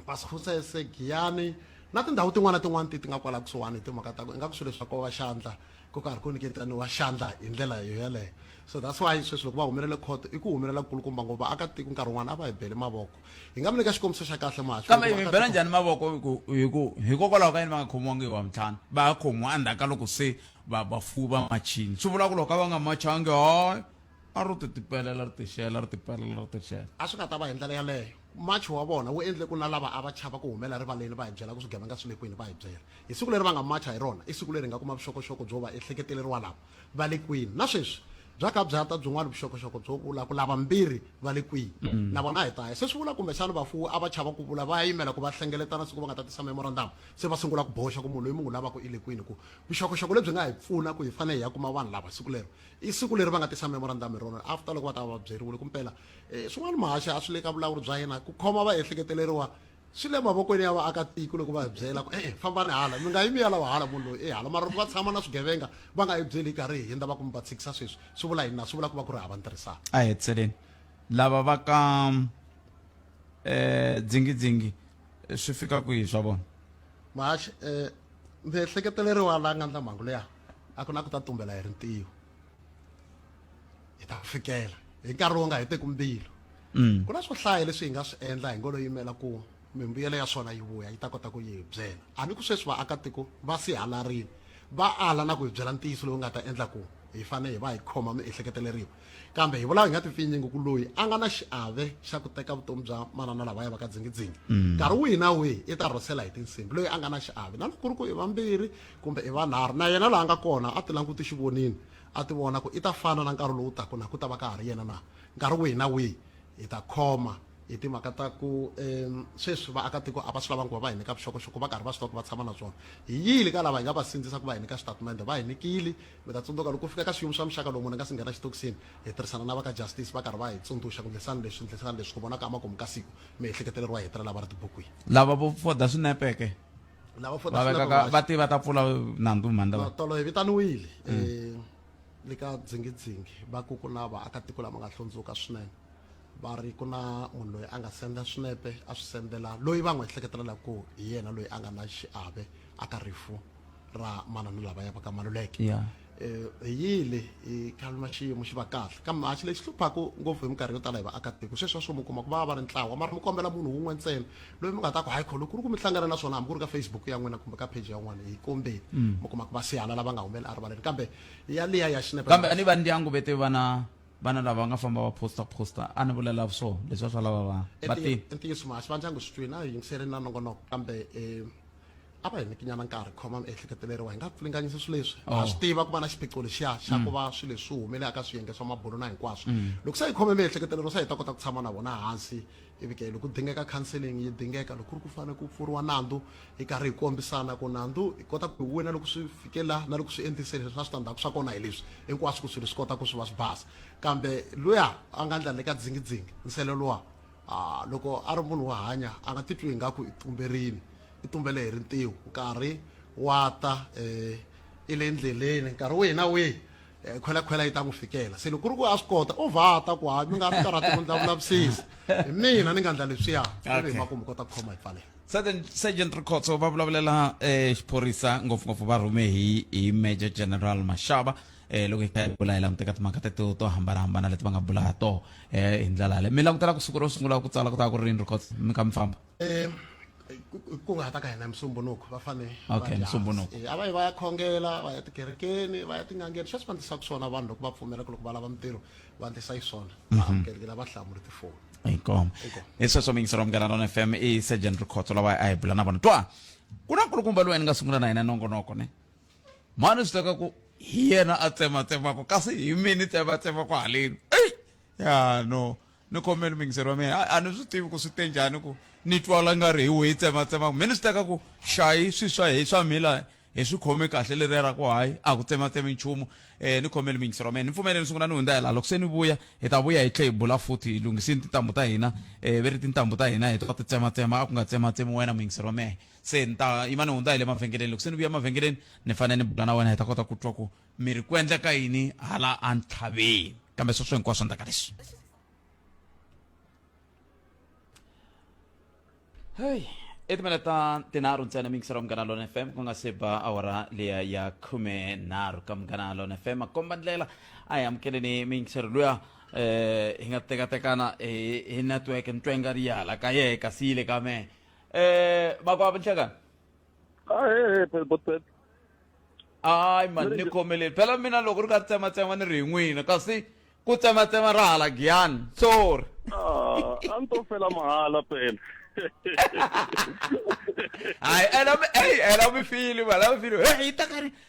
vasifusese giyani na tindhawu tin'wana na tin'wana ti ti nga kwala kusuhani hi timhaka ta ku ingaku swilo leswi va kova xandla ku karhi ku nyiketaniwa xandla hi ndlela yoyaleyo so that's why sweswi loko va humelele khoto i ku humelela kulukumba ngo vaakatiko nkarhi wun'wana a va hi bele mavoko hi nga mi nyika xikombiso xa kahle kambe hi mi bela njhani mavoko hi ku hikokwalaho ka yini va nga khomiwangi hi wa mintlhanu va ya khomiwa endzhaku ka loko se va vafuwi va machini swi vula ku loko a va nga machangi hayi a ro ti tipelela ri tixela ri tipelela ri tixela a swi nga ta va hi ndlela yaleyo March wa vona wu endle ku na lava a va chava ku humela rivaleni va hi byela ku swigevenga swi le kwini va hi byela hi siku leri va nga macha hi rona i siku leri hi nga kuma vuxokoxoko byo va ehleketeleriwa lava va le kwini na sweswi bya ka bya ta byin'wana vuxokoxoko byo vula ku lava mbirhi va le kwini na vona a hi ta ya se swi vula kumbe xana vafuwi a va chava ku vula va ya yimela ku va hlengeletana siku va nga ta tisa memorandamu se va sungula ku boxa ku munhu loyi mi n'wi lavaka i le kwini ku vuxokoxoko lebyi nga hi pfuna ku hi fanele hi ya kuma vanhu lava siku lero i siku leri va nga tisa memorandamu hi rona after loko va ta va va byeriwile ku mpela E, swin'wana mahaxi a swi le ka vulawuri bya yena ku khoma vaehleketeleriwa swi le mavokweni ya vaakatiko loko va hi byela ku e-e fambani hala mi nga yi mi ya lava hala munhu loyi e hala mara loko va tshama na swigevenga va nga yi byeli hi karhi hi hindza va ku mi va tshikisa sweswi swi vula yini na swi vula ku va ku ri hava ntirhisano a heteleni lava va ka um dzingidzingi swi fika kwihi swa vona mahaxi um miehleketeleriwa la nga ndla mhangu leya a ku na ku ta tumbela hi rintiho hi ta fikela hi nkarhi wo nga heteki mbilu mm. ku na swo hlaya leswi hi nga swi endla hi ngo lo yimela ku mimbuyelo ya swona yi vuya yi ta kota ku yi byela a ni ku sweswi vaakatiko va sihalarini va ala na ku hi byela ntiyiso lowu nga ta endla ku hi fanele hi va hi khoma miehleketeleriwa kambe hi vulaku hi nga tipfinyingi ku loyi a nga na xiave xa ku teka vutomi bya manana lava ya va ka dzingidzingi mm. nkarhi wihi na wihi i ta rhosela hi tinsimbi loyi a nga na xiave na loko ku ri ku i vambirhi kumbe i vanharhu, na yena laha a nga kona, a ti languti xivonini, a ti vona ku i ta fana na nkarhi lowu taka na ku ta va ka ha ri yena na nkarhi wihi na wihi. Hi ta khoma hi timhaka ta ku sweswi vaakatiko a va swi lavangi ku va va hi nyika vuxokoxoko, va karhi va swi tiva ku va tshama na swona. Hi yile ka lava hi nga va sindzisa ku va hi nyika xitatimende, va hi nyikile. Mi ta tsundzuka loko ku fika ka swiyimo swa muxaka lowu munhu a nga si nghena xitokisini, hi tirhisana na va ka Justice va karhi va hi tsundzuxa ku ndlisani leswi, ndlisani leswi, ku vona ka makumu ka siku mi ehleketeleriwa hi hetelela va ri tibukwini. Lava vo foda swinepe ke? lava fota va te va ta pfula nandzu mhandla va tolo hi vitaniwile mm. eh, le ka dzingidzingi va ku ku na vaakatiko lama nga hlundzuka swinene va ri ku na munhu loyi a nga senda swinepe a swi sendela loyi va n'wi ehleketelelaka ku hi yena loyi a nga na xiave aka rifu ra manana lava ya va ka maluleke um hi yile hi khalima xiyimo xi va kahle kambe maxi lexi hluphaku ngopfu hi minkarhi yo tala hi vaakatiko sweswi va swo mi kuma ku va va ri ntlawa mara mi kombela munhu wun'we ntsena loyi mi nga ta ku hayi kholo ku ri ku mi hlangana na swona hambi ku ri ka facebook ya n'wina kumbe ka page ya n'wana hi kombeni mm. mi kuma ku va sihala lava nga humeli erivaleni kambe ya liya ya xinepe kambe a ni va ndyangu vete vana vana lava nga famba va posta posta a ni vulela swo leswi va swa lava va va ti ntiyiso maxi va ndyangu swi twini a hi yingiseleni na nongonoko kambe um a va hi nikinyana nkarhi khoma miehleketo leriwa hi nga pfulinganyisa swilo leswi ha oh. swi tiva ku va na xiphiqo lexiya xa ku mm. va swilo leswi swi humele aka swiyenge swa mabulo na hinkwaswo mm. loko se hi khome miehleketo leriwa se hi ta kota ku tshama na vona hansi ivi ke loko dingeka counseling yi dingeka loko ku ri ku fanele ku pfuriwa nandzu hi karhi hi kombisana ku nandzu hi kota ku hi wina loko swi fike la na loko swi endlise leswi na switandzhaku swa kona hi leswi hinkwaswo ku swilo swi kota ku swi va swi basa kambe luya a nga ndla le ka dzingidzingi nsele luwa A Loko a ri munhu wo hanya, a nga titwi ingaku i tumberini, i tumbele hi rintiho. Nkarhi wa ta, e, i le ndleleni, nkarhi wihi na wihi, e, khwelakhwela yi ta n'wi fikela. Se loko ku ri ku a swi kota, u vha ta ku, Hayi, mi nga tikarhati ku ndla vulavisisi hi mina, ni nga ndla leswiya, ivi hi Okay. makumu mi kota ku khoma hi pfalela. Sergeant, Sergeant Rikhotso va vulavulela eh, xiphorisa ngopfungopfu va rhume hi, hi Major General Mashaba eh loko hi kha hi bula hi languteka timhaka teto to hambanahambana leti va nga bula ha toho um hi ndlela yale mi langutela ku siku ro sungula ku tsala ku ta ku ri rini ri kota mi ka mi famba um ku nga ha ta ka hina musumbunuko va fane okay musumbunuko eh, a va yi va ya khongela va ya tikerekeni va ya tin'angeni sweswi va ndlisaka swona vanhu loko va pfumela ku loko va lava mintirho va ndlisa yi swona va mhm. amukelekela va hlamuli tifoni inkomo hi sweswo mingisero munghana lona f m i sergeant rikhotso lawa a hi bula na vona twa ku na nkulukumba loyi ni nga sungula na yena nongonoko ne mhani swi teka ku hi yena a tsematsemaka kasi hi mi ni tsematsemaka haleni eyi ya no ni khomeni mingiseri wa mina a ni swi tivi ku swi te njhani ku ni twala nga ri hi weyi tsematsemaka mi ni swi teka ku xayi swi swa hi swa mila hi swi khome kahle leriya ra ku hayi a ku tsematsemi nchumu um ni khomeli mingisero wa mina ni pfumele ni sungula ni hundza hi laha loko se ni vuya hi ta vuya hi tlhe hi bula futhi hi lunghisini tintambu ta hina um ve ri tintambu ta hina hi ta ti tsematsema a ku nga tsematsemi wena mingisero wa mehe se ni ta yima ni hundza hi le mavhengeleni loko se ni vuya mavhengeleni ni fanele ni bula na wena hi ta kota ku twa ku mi ri ku endleka yini hala entlhaveni kambe sweswo hinkwaswo endlaka leswi heyi i timela ta tinharhu ntsena mi yingisela munghana lona fm ku nga se ba awara leya ya khume nharhu ka munghana lona fm makomba ndlela a hi amukeleni mi yingiselo luya eh hi nga tekatekana hi hi network ni twa i nga ri yala ka yehe kasi yi le ka mehe eh bakwabo nhlekani Hey, hey, but but hayi mani ni khomeleni phela mina loko ri ka tsematsema ni ri hi n'wina kasi ku tsematsema ra hala giyani sorry ah, a ni to fela mahala phela. hayi ela mi eyi ela mi fili mani ela mi fili heyi yi ta ka ri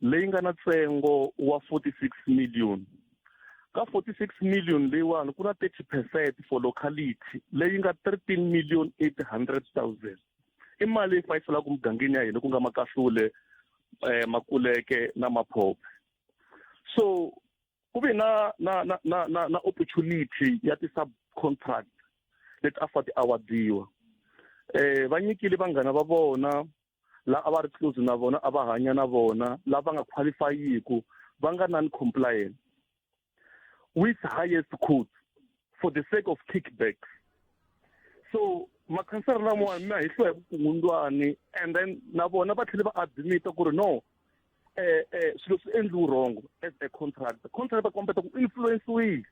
leyi nga na ntsengo wa 46 million ka 46 million leyiwani ku na 30 percent for locality leyi nga 13 million 800 000 i mali leyi fayiselaka mugangeni ya hina ku nga makahlule eh, makuleke na maphope so ku ve na na na na na, na opportunity ya ti-subcontract leti a fa ti-awadiwa eh va nyikile vanghana va vona la a va ri close na vona a va hanya na vona lava nga qualifyiku va nga non compliant with highest court for the sake of kickbacks so makhansara lamawani mi ya hi hluwa hi vukungundwani and then na vona va tlhele va admita ku ri no eh eh swilo swi endliwi wrong as a contract contract va kombeta ku influenciwile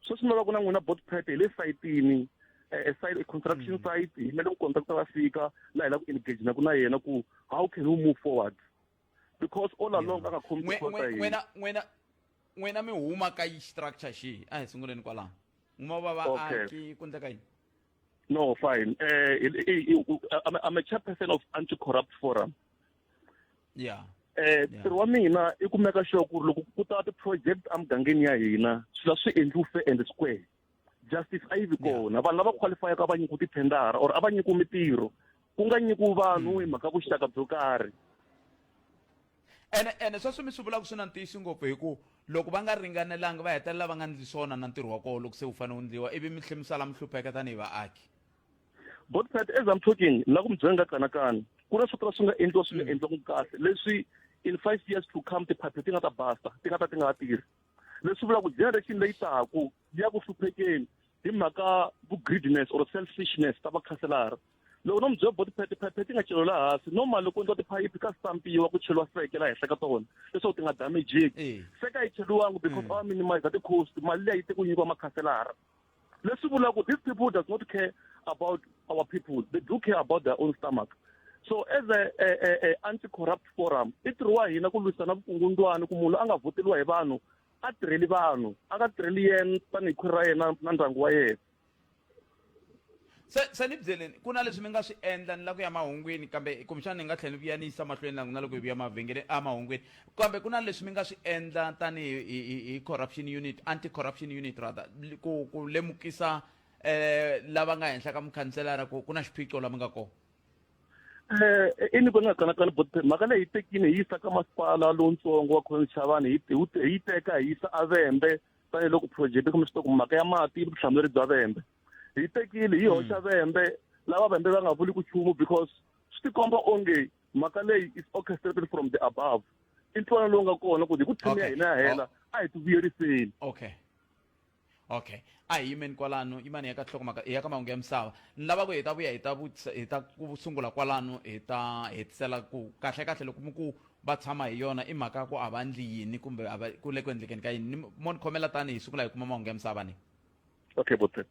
sweswi no va ku na n'wina bot prep hi le sayitini eh, side construction mm. site hi mele ku contractor va fika la hi la ku engage na ku na yena ku how can we move forward because all along a nga khomi n'wina n'wina n'wina mi huma ka yi structure xihi a hi sunguleni kwalaho n'wina va vaaki ku ndleka yini No, fine. Uh, I'm a chairperson of Anti-Corrupt Forum. yeah eh ntirho wa mina i ku meka sure ku loko ku ta ti-project emugangeni ya hina swilo swi endliwi fair and square justice a yi vi kona vanhu lava qualifyaka a va nyikiwi tithendara or a va nyikiwi mitirho ku nga nyikiwi vanhu hmm. hi mhaka vuxaka byo karhi ene ene sweswi mi swi vulaka swi na ntiyisi ngopfu hi ku loko va nga ringanelanga va hetelela va nga ndli swona na ntirho wa koho loko se wu fanele wu ndliwa ivi mi tlhe mi sala mi hlupheka tanihi vaaki botpet as i'm talking la ku mi byela nga kanakani ku na swo tala swi nga endliwa swi nga mm. endliwanga kahle leswi in five years to come tiphaphe ti nga ta basta ti nga ta ti nga ha tirhi leswi vula ku generation leyi taku ya ku hluphekeni hi mhaka vu-greediness or selfishness ta vakhanselara loko no mi byela body pet phephe ti nga chelo la hansi normal loko ndza tiphayiphi ka stampiwa ku cheliwa seke la henhla ka tona leswaku ti nga damageki seka yi cheliwangi because mm. va minimize ti-cost mali leyi te ku nyikiwa makhanselara leswi vula ku these people does not care about our people they do care about their own stomach so as a, a, a, a anti corrupt forum i ntirho wa hina ku lwisana vukungundwani ku munhu a nga vhoteriwa hi vanhu a tirheli vanhu a nga tirheli yena tanihi khwiri ra yena na ndyangu wa yena Se, se ni byeleni ku na leswi ni nga swi endla ni la ku ya mahungwini kambe kumbexana ni nga tlhela ni vuya ni yisa mahlweni langu na loko hi vuya mavhengele a mahungwini kambe ku na leswi mi nga swi endla tanihi hi, hi, hi corruption unit anti corruption unit rather li- ku, ku lemukisa eh, lava nga henhla ka mukhanselara ku ku na xiphiqo la mi nga kona Eh, i ni vona kanakana but mhaka leyi hi tekile hi yisa ka masipala lowutsongo wa khona chavani hi hi wu te- hi yi teka hi yisa avembe tanihiloko project kumbe swi tiva ku mhaka ya mati i vutihlamuleri bya vembe hi tekile hi hoxa vembe lava vembe va nga vuli ku chumu because swi tikomba onge mhaka leyi is orchestrated from the above i ntwana lowu nga kona ku hi ku thini ya hina ya hela a hi ti vuyeriseni okay okay a hi yimeni kwalano yimani ya ka nhlokomhaka ya ka mahungu ya misava ni lava ku hi ta vuya hi ta hi ta ku sungula kwalano hi ta hetisela ku kahle kahle loko mi ku va tshama hi yona i mhaka ku a va ndli yini kumbe a va ku le ku endlekeni ka yini mon khomela tani hi sungula hi kuma mahungu ya misava ni okay bote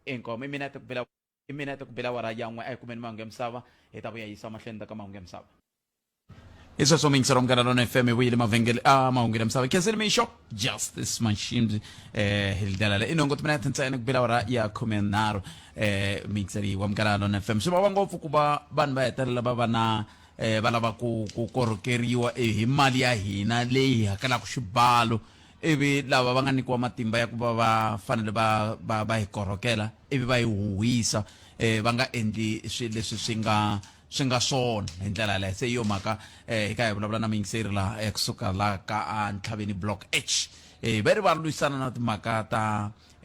inkomu i minete ku bela i minete ku bela wara yan'we a yi kumeni mahungu ya misava hi ta vuya yisa mahlweni ta ka mahungu ya misava i sweswo mingisa ra munghana lona fm vuyile mavhengele a ah, mahungu ya misava cancel me shop justice machines eh hi ndlela le inongo ti mina ti ntsena ku bela wara ya khume nharhu eh mingisa leyi wa munghana lona fm swi vava ngopfu ku va vanhu va hetelela va va na eh va lava ku ku korhokeriwa eh, hi mali ya hina leyi hakelaka xibalo ivi lava va nga nyikiwa matimba ya ku va va fanele va va va hi korhokela ivi va hi huhisa um va nga endli swi leswi swi nga swi nga swona hi ndlela yaleyo se hi yo mhaka um hi ka hi vulavula na muyingiseri laha eh, kusuka laha ka a ntlhaveni block h um va ri va lwisana na timhaka ta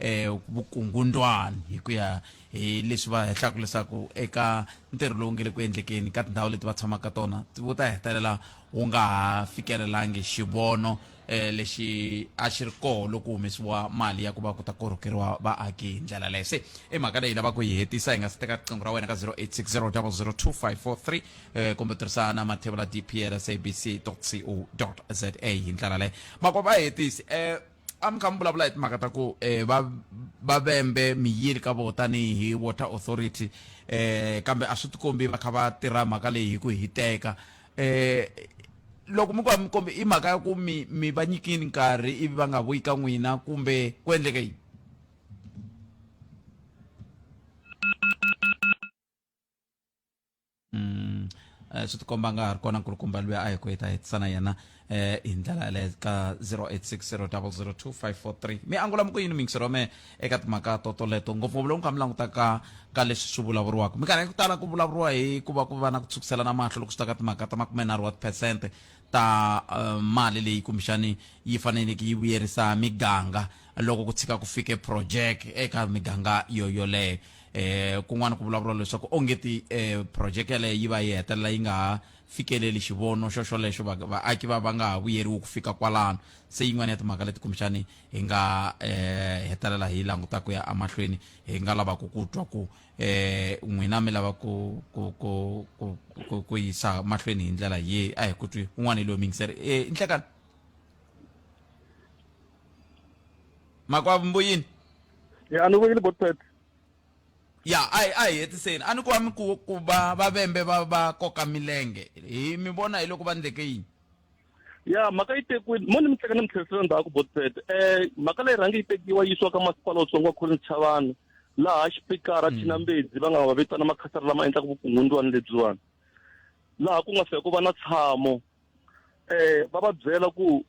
um vukungundwani hi ku ya hi leswi va hehlaka leswaku eka ntirho lowu nge le ku endlekeni ka tindhawu leti va tshamaka tona wu ta hetelela wu nga ha fikelelangi xivono eh, lexi a xi ri koho loko humesiwa mali ya ku va ku ta korhokeriwa vaaki hi ndlela leyo se i mhaka leyi lava ku yi hetisa hi nga si teka riqingho ra wena ka 0860002543 eh, kumbe tirhisa na mathevula dpl sabc co za hi ndlela leyo mako va hetisi eh, a mi kha mi vulavula hi timhaka ta ku eh, va va vembe miyili ka vo tanihi water authority eh kambe a swi tikombi va kha va tirha mhaka leyi hi ku hiteka eh loko mi ku va mi kombe i mhaka ya ku mi mi va nyikini nkarhi ivi va nga vuyi ka n'wina kumbe ku endleke yini mm. eh, swi tikomba nga ha ri kona nkulukumba luya a hi ku hi ta hetisana yena eh hi ndlela yaleyo ka 0860002543 mi angula mi ku yini mingisero me eka timhaka toto leto ngopfungopfu loko mi kha mi langutaka ka leswi swi vulavuriwaka minkarhi ya ku tala ku vulavuriwa hi ku va ku va na ku tshukiselana mahlo loko swi ta ka timhaka ta makumenharhu wa tiphesente ta eh, mali leyi kumbexani yi faneleke yi vuyerisa miganga loko ku tshika ku fike project eka miganga yo yoleyo eh kun'wana ku vulavuriwa leswaku ongeti eh project yaleyo yi va yi hetelela yi nga ha fikeleli xivono xoxolexo, va, vaaki va va nga ha vuyeriwi ku fika kwalano. Se yin'wana ya timhaka leti kumbexani hi nga eh, hetelela hi languta ku ya emahlweni hi nga lavaka ku twa ku eh, n'wina mi lava ku ku ku ku ku, ku yisa mahlweni hi ndlela ye a hi ku twi un'wana hi loyi mingiseri eh, inhlekani makwavo mbuyini ya ni vuyile botpet Ya, a hi a hi hetiseni. A ni kwami ku ku va va vembe va va koka milenge. Hi mi vona hi loko va ndleke yini? Ya, mhaka yi tekiwini. Mo ni mi teka ni mi tlherisela ndzhaku Botsford. Eh, mhaka leyi rhange yi tekiwa yi yisiwa ka masipala wutsongo wa Collins Chavani laha xipikara Thina Mbedzi va nga va vitana makhasara lama endlaka vukungundzwani lebyiwani. Laha ku nga fika ku va na tshamo. eh va va byela ku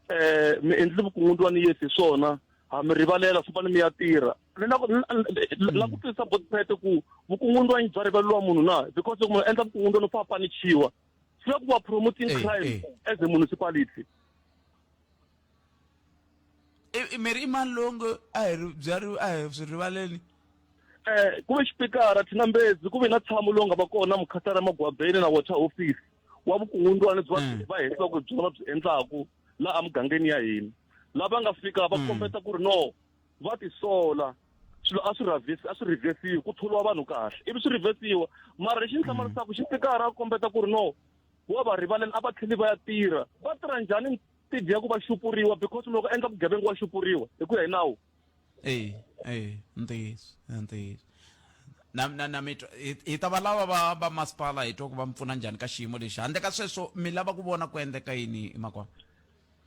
eh mi endli vukungundzwa ni Yesu swona ha mi rivalela fambani mi ya tirha ni na la ku twisisa bot pet ku vukungundzwa yi bya rivaleliwa munhu na because loko munhu endla vukungundzwa no fa panichiwa swi la ku va promoting crime as a municipality I- i- miri i mani lowu nge a hi ri- byariwi a hi swi rivaleni um ku ve xipikara thinambezi ku ve na tshamo lowu nga va kona mukhatara magwabeni na water office wa vukungundzwani byi va Mm. va hehisa ku byona byi endlaku laha mugangeni ya hina lava nga fika va kombeta ku ri no va tisola swilo a swi rhavesi a swi rhivesiwi ku tholiwa vanhu kahle ivi swi rhivesiwa mara lexi ni hlamarisaka xipikara a kombeta ku ri no wa va rivaleni a va tlheli va ya tirha va tirha njhani ti dya ku va xupuriwa because loko endla vugevenga wa xupuriwa hi ku ya hi nawu e e ntiyiso ntiyiso na na na mitwa hi ta va lava va va masipala hi twa ku va mi pfuna njhani ka xiyimo lexi handle ka sweswo mi lava ku vona ku endleka yini emakwana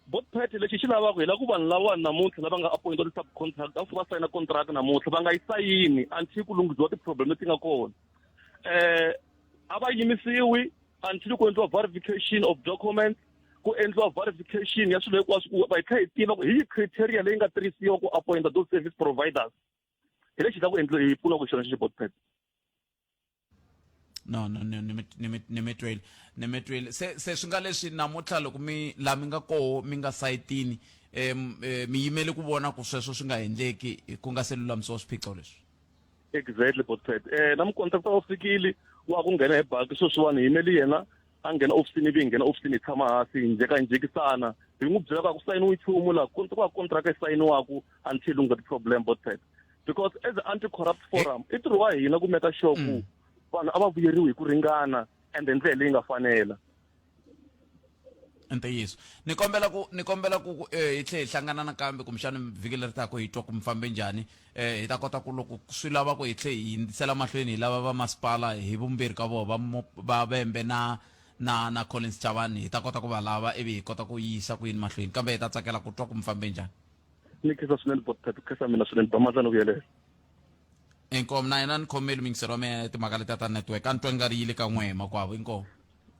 bot party lexi xi lavaka hi la ku vanhu lawa namuntlha lava nga appointiwa ti-sub contract a va sayina contract namuntlha va nga yi sayini until ku lunghisiwa ti-problem leti nga kona um a va yimisiwi until ku endliwa verification of documents ku endliwa verification ya swilo hinkwaswo ku va hi tlhela hi tiva ku hi yi criteria leyi nga tirhisiwa ku appointa those service providers hi lexi ta ku endliwa hi pfuna ku xona xi bot pet no no no ni mi tweli ni mi tweli se se swi nga leswi namuntlha loko mi la mi nga koho mi nga sayitini um mi yimele ku vona ku sweswo swi nga endleki ku nga se lulamisiwa swiphiqo leswi exactly bot pet um na mukontakta u fikile wa ku nghena hi baki sweswiwani hi yimeli yena a nghena ofisini ivi hi nghena ofisini hi tshama hansi hi njeka hi njekisana hi n'wi byela ka ku sayiniwa nchumu laha ku va kontraka yi sayiniwaku until u nga ti-problem both sides because as anti corrupt forum i ntirho wa hina ku meka sure ku mm. vanhu a va vuyeriwi hi ku ringana and hi ndlela leyi nga fanela ntiyiso ni kombela ku ni kombela ku eh, hi tlhe hi hlangana nakambe kumbexana vhiki leri taka hi twa ku mi fambe njhani hi ta kota ku loko swi lava ku hi tlhe hi hindzisela mahlweni hi lava va masipala hi vumbirhi ka vona va va Vhembe na na na Collins Chavani hi ta kota ku va lava ivi hi kota ku yisa ku yini mahlweni kambe hi ta tsakela ku twa ku mi fambe njhani ni khensa swinene bot pep khensa mina swinene ba mandla ni vuyelela inkomu na yena ni khomeli mingiselo wa mina timhaka leti ta network a ni twa ni nga ri yile ka n'we hi makwavo inkomu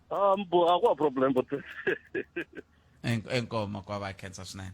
um a ku wa problem bot enkoma kwa va khensa swinene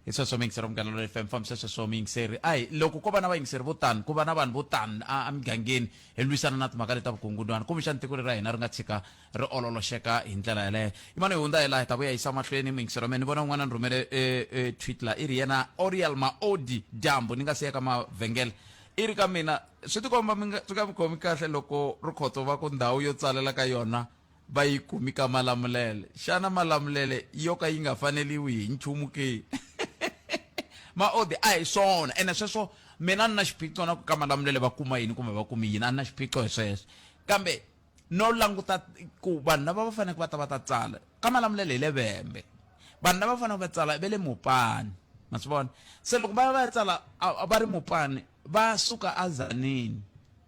hi sweswo miyingiseri munghana lolo fm fambisa sweswo miyingiseri ayi loko ko va na vayingiseri vo tani ku va na vanhu vo tani a migangeni hi lwisana na timhaka leti ta vukungundzwana kumbexani tiko leri ra hina ri nga tshika ri ololoxeka hi ndlela yeleyo imana hi hundza hi laha hi ta vuya yisa mahlweni muyingiseri wa mina ni vona un'wana ni rhumele e, e, tweet la i ri yena oriel maodi dyambu ni nga siyeka mavhengele i ri ka mina swi tikomba swi nga mi khomi kahle loko ri khotso va ku ndhawu yo tsalela ka yona va yi kumi ka Malamulele. Xana Malamulele yo ka yi nga faneriwi hi nchumu ke? Maodi, A hi swona, ene sweswo mina a ni na xiphiqo na ku ka Malamulele va kuma yini kumbe va kumi yini, a ni na xiphiqo hi sweswo. Kambe no languta ku vanhu lava va faneleke va ta va ta tsala ka Malamulele hi le Vhembe, vanhu lava va faneleke va tsala i va le Mopani, ma swi vona. Se loko va ya va ya tsala va ri Mopani va suka eZanini,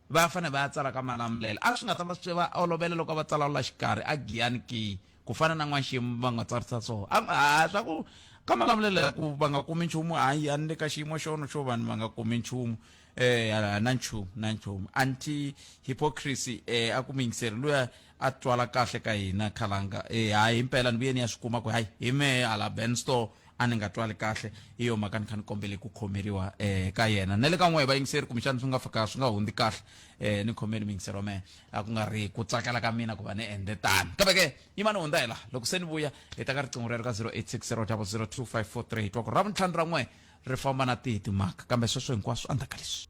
va ya fane va ya tsala ka Malamulele. A swi nga ta va swi va olovela loko a va tsala la xikarhi a Giyani ki, ku fana na N'waxemu va nga tsarisa swona. A nga ha swa ku ka Malamulele a ku va nga kumi nchumu, hayi a ni le ka xiyimo xono xo vanhu va nga kumi nchumu, e, na nchumu, na nchumu. Anti-hypocrisy, e, a ku muyingiseri luya a twala kahle ka hina khalanga e hayi impela ni vuye ni ya swi kuma ku hayi hi mehe hala ben store a ni nga twali kahle hi yo mhaka ni kha ni kombele ku khomeriwa um ka yena na le ka n'wehe vayingiseri kumbexana swi nga fika swi nga hundzi kahle um ni khomeni muyingiseri wa mehe a ku nga ri ku tsakela ka mina ku va ni endle tani kambe ke yima ni hundza hi laha loko se ni vuya hi ta ka riqingho rero ka 0860 002 543 hi twa ku ra vuntlhanu ra n'wehe ri famba na tihi timhaka kambe sweswo hinkwaswo endzhaku ka leswi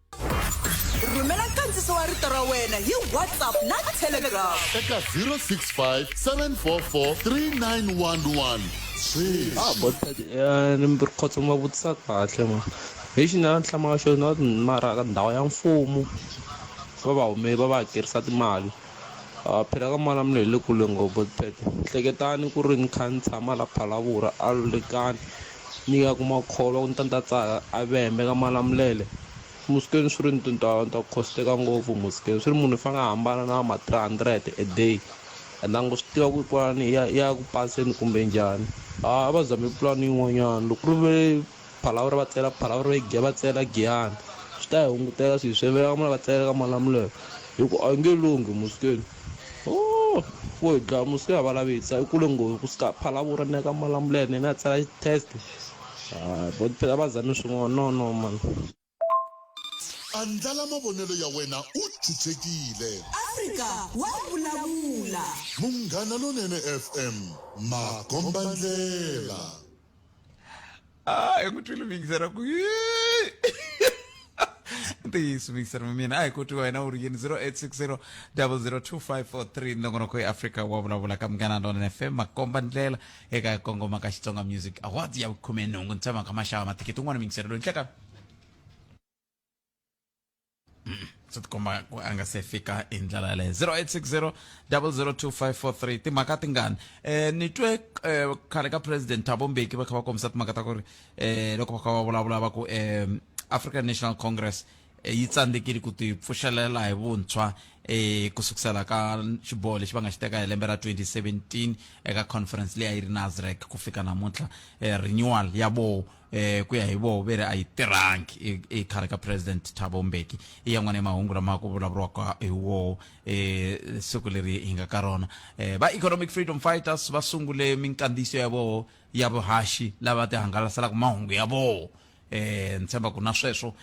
rhumela nkandziso wa rito ra wena hi whatsapp na telegram eka 065 744 3911 swimbirhi khotso ma vutisa kahle ma hi xi na hlamaka xona mara ka ndhawu ya mfumo va va hume va va hakerisa timali Ah, phela ka mali mina hi le kule ngopfu tete hleketani ku ri ni kha ni tshama la phalavura a lulekani Ni ya ku makholwa ku ni ta ni ta tsaka a ve hembe ka Malamulele Muskeni swi ri ni tintwala ni ta ku khosteka ngopfu Muskeni swi ri munhu i fanele a hambana na ma three hundred a day and a ngo swi tiva ku kwalani ya ya ku paseni kumbe njhani a a va zame pulani yin'wanyana loko ku ri ve phalavuri va tsela phalavuri va giya va tsela giyani swi ta hi hunguteka swi hi swi veka va tsela ka Malamulele hi ku a yi nge lunghi Muskeni. Oh, wo hi dlaya musi ya valavisa i kule nghozi ku sika phalavura ni ya ka malamula ya nena a tsala test hayi vo phela va zame swin'wana no no mani Andlala mavonelo ya wena u chuchekile. Afrika wa vulavula. Munghana Lonene FM, makombandlela. Ah, eu kuti luvingisera ku ntiyiso vingisera mina ayi kuti wena u ri yini 0860 002543 nongonoko ya afrika wa vulavula ka munghana lona fm makomba ndlela eka kongoma ka xitsonga music awards ya vukhume nhungu ntsema ka maxava mathikiti un'wana mingisera loyi nhleka swi tikomba a nga se fika hi ndlela yaleyo 0860 002543 timhaka tingani eh ni twe eh, khale ka president thabo mbeki va kha va kombisa timhaka ta ku ri eh loko va kha va vulavula va ku eh african national congress eh, yi tsandzekile ku tipfuxelela hi vuntshwa eh ku sukusela ka xiboho lexi va nga xi teka hi lembe ra 2017 eka conference leyi a yi ri nasrec ku fika namuntlha eh, renewal ya boho eh ku ya hi voho ve ri a yi tirhangi e- ekhale ka president thabo mbeki i yan'wana ya mahungu lama ku vulavuriwaka hi woho um siku leri hi nga ka rona um va economic freedom fighters va sungule minkandziyiso ya voho ya vuhaxi lava ti hangalaselaka mahungu ya voho um ni tshemba ku na sweswo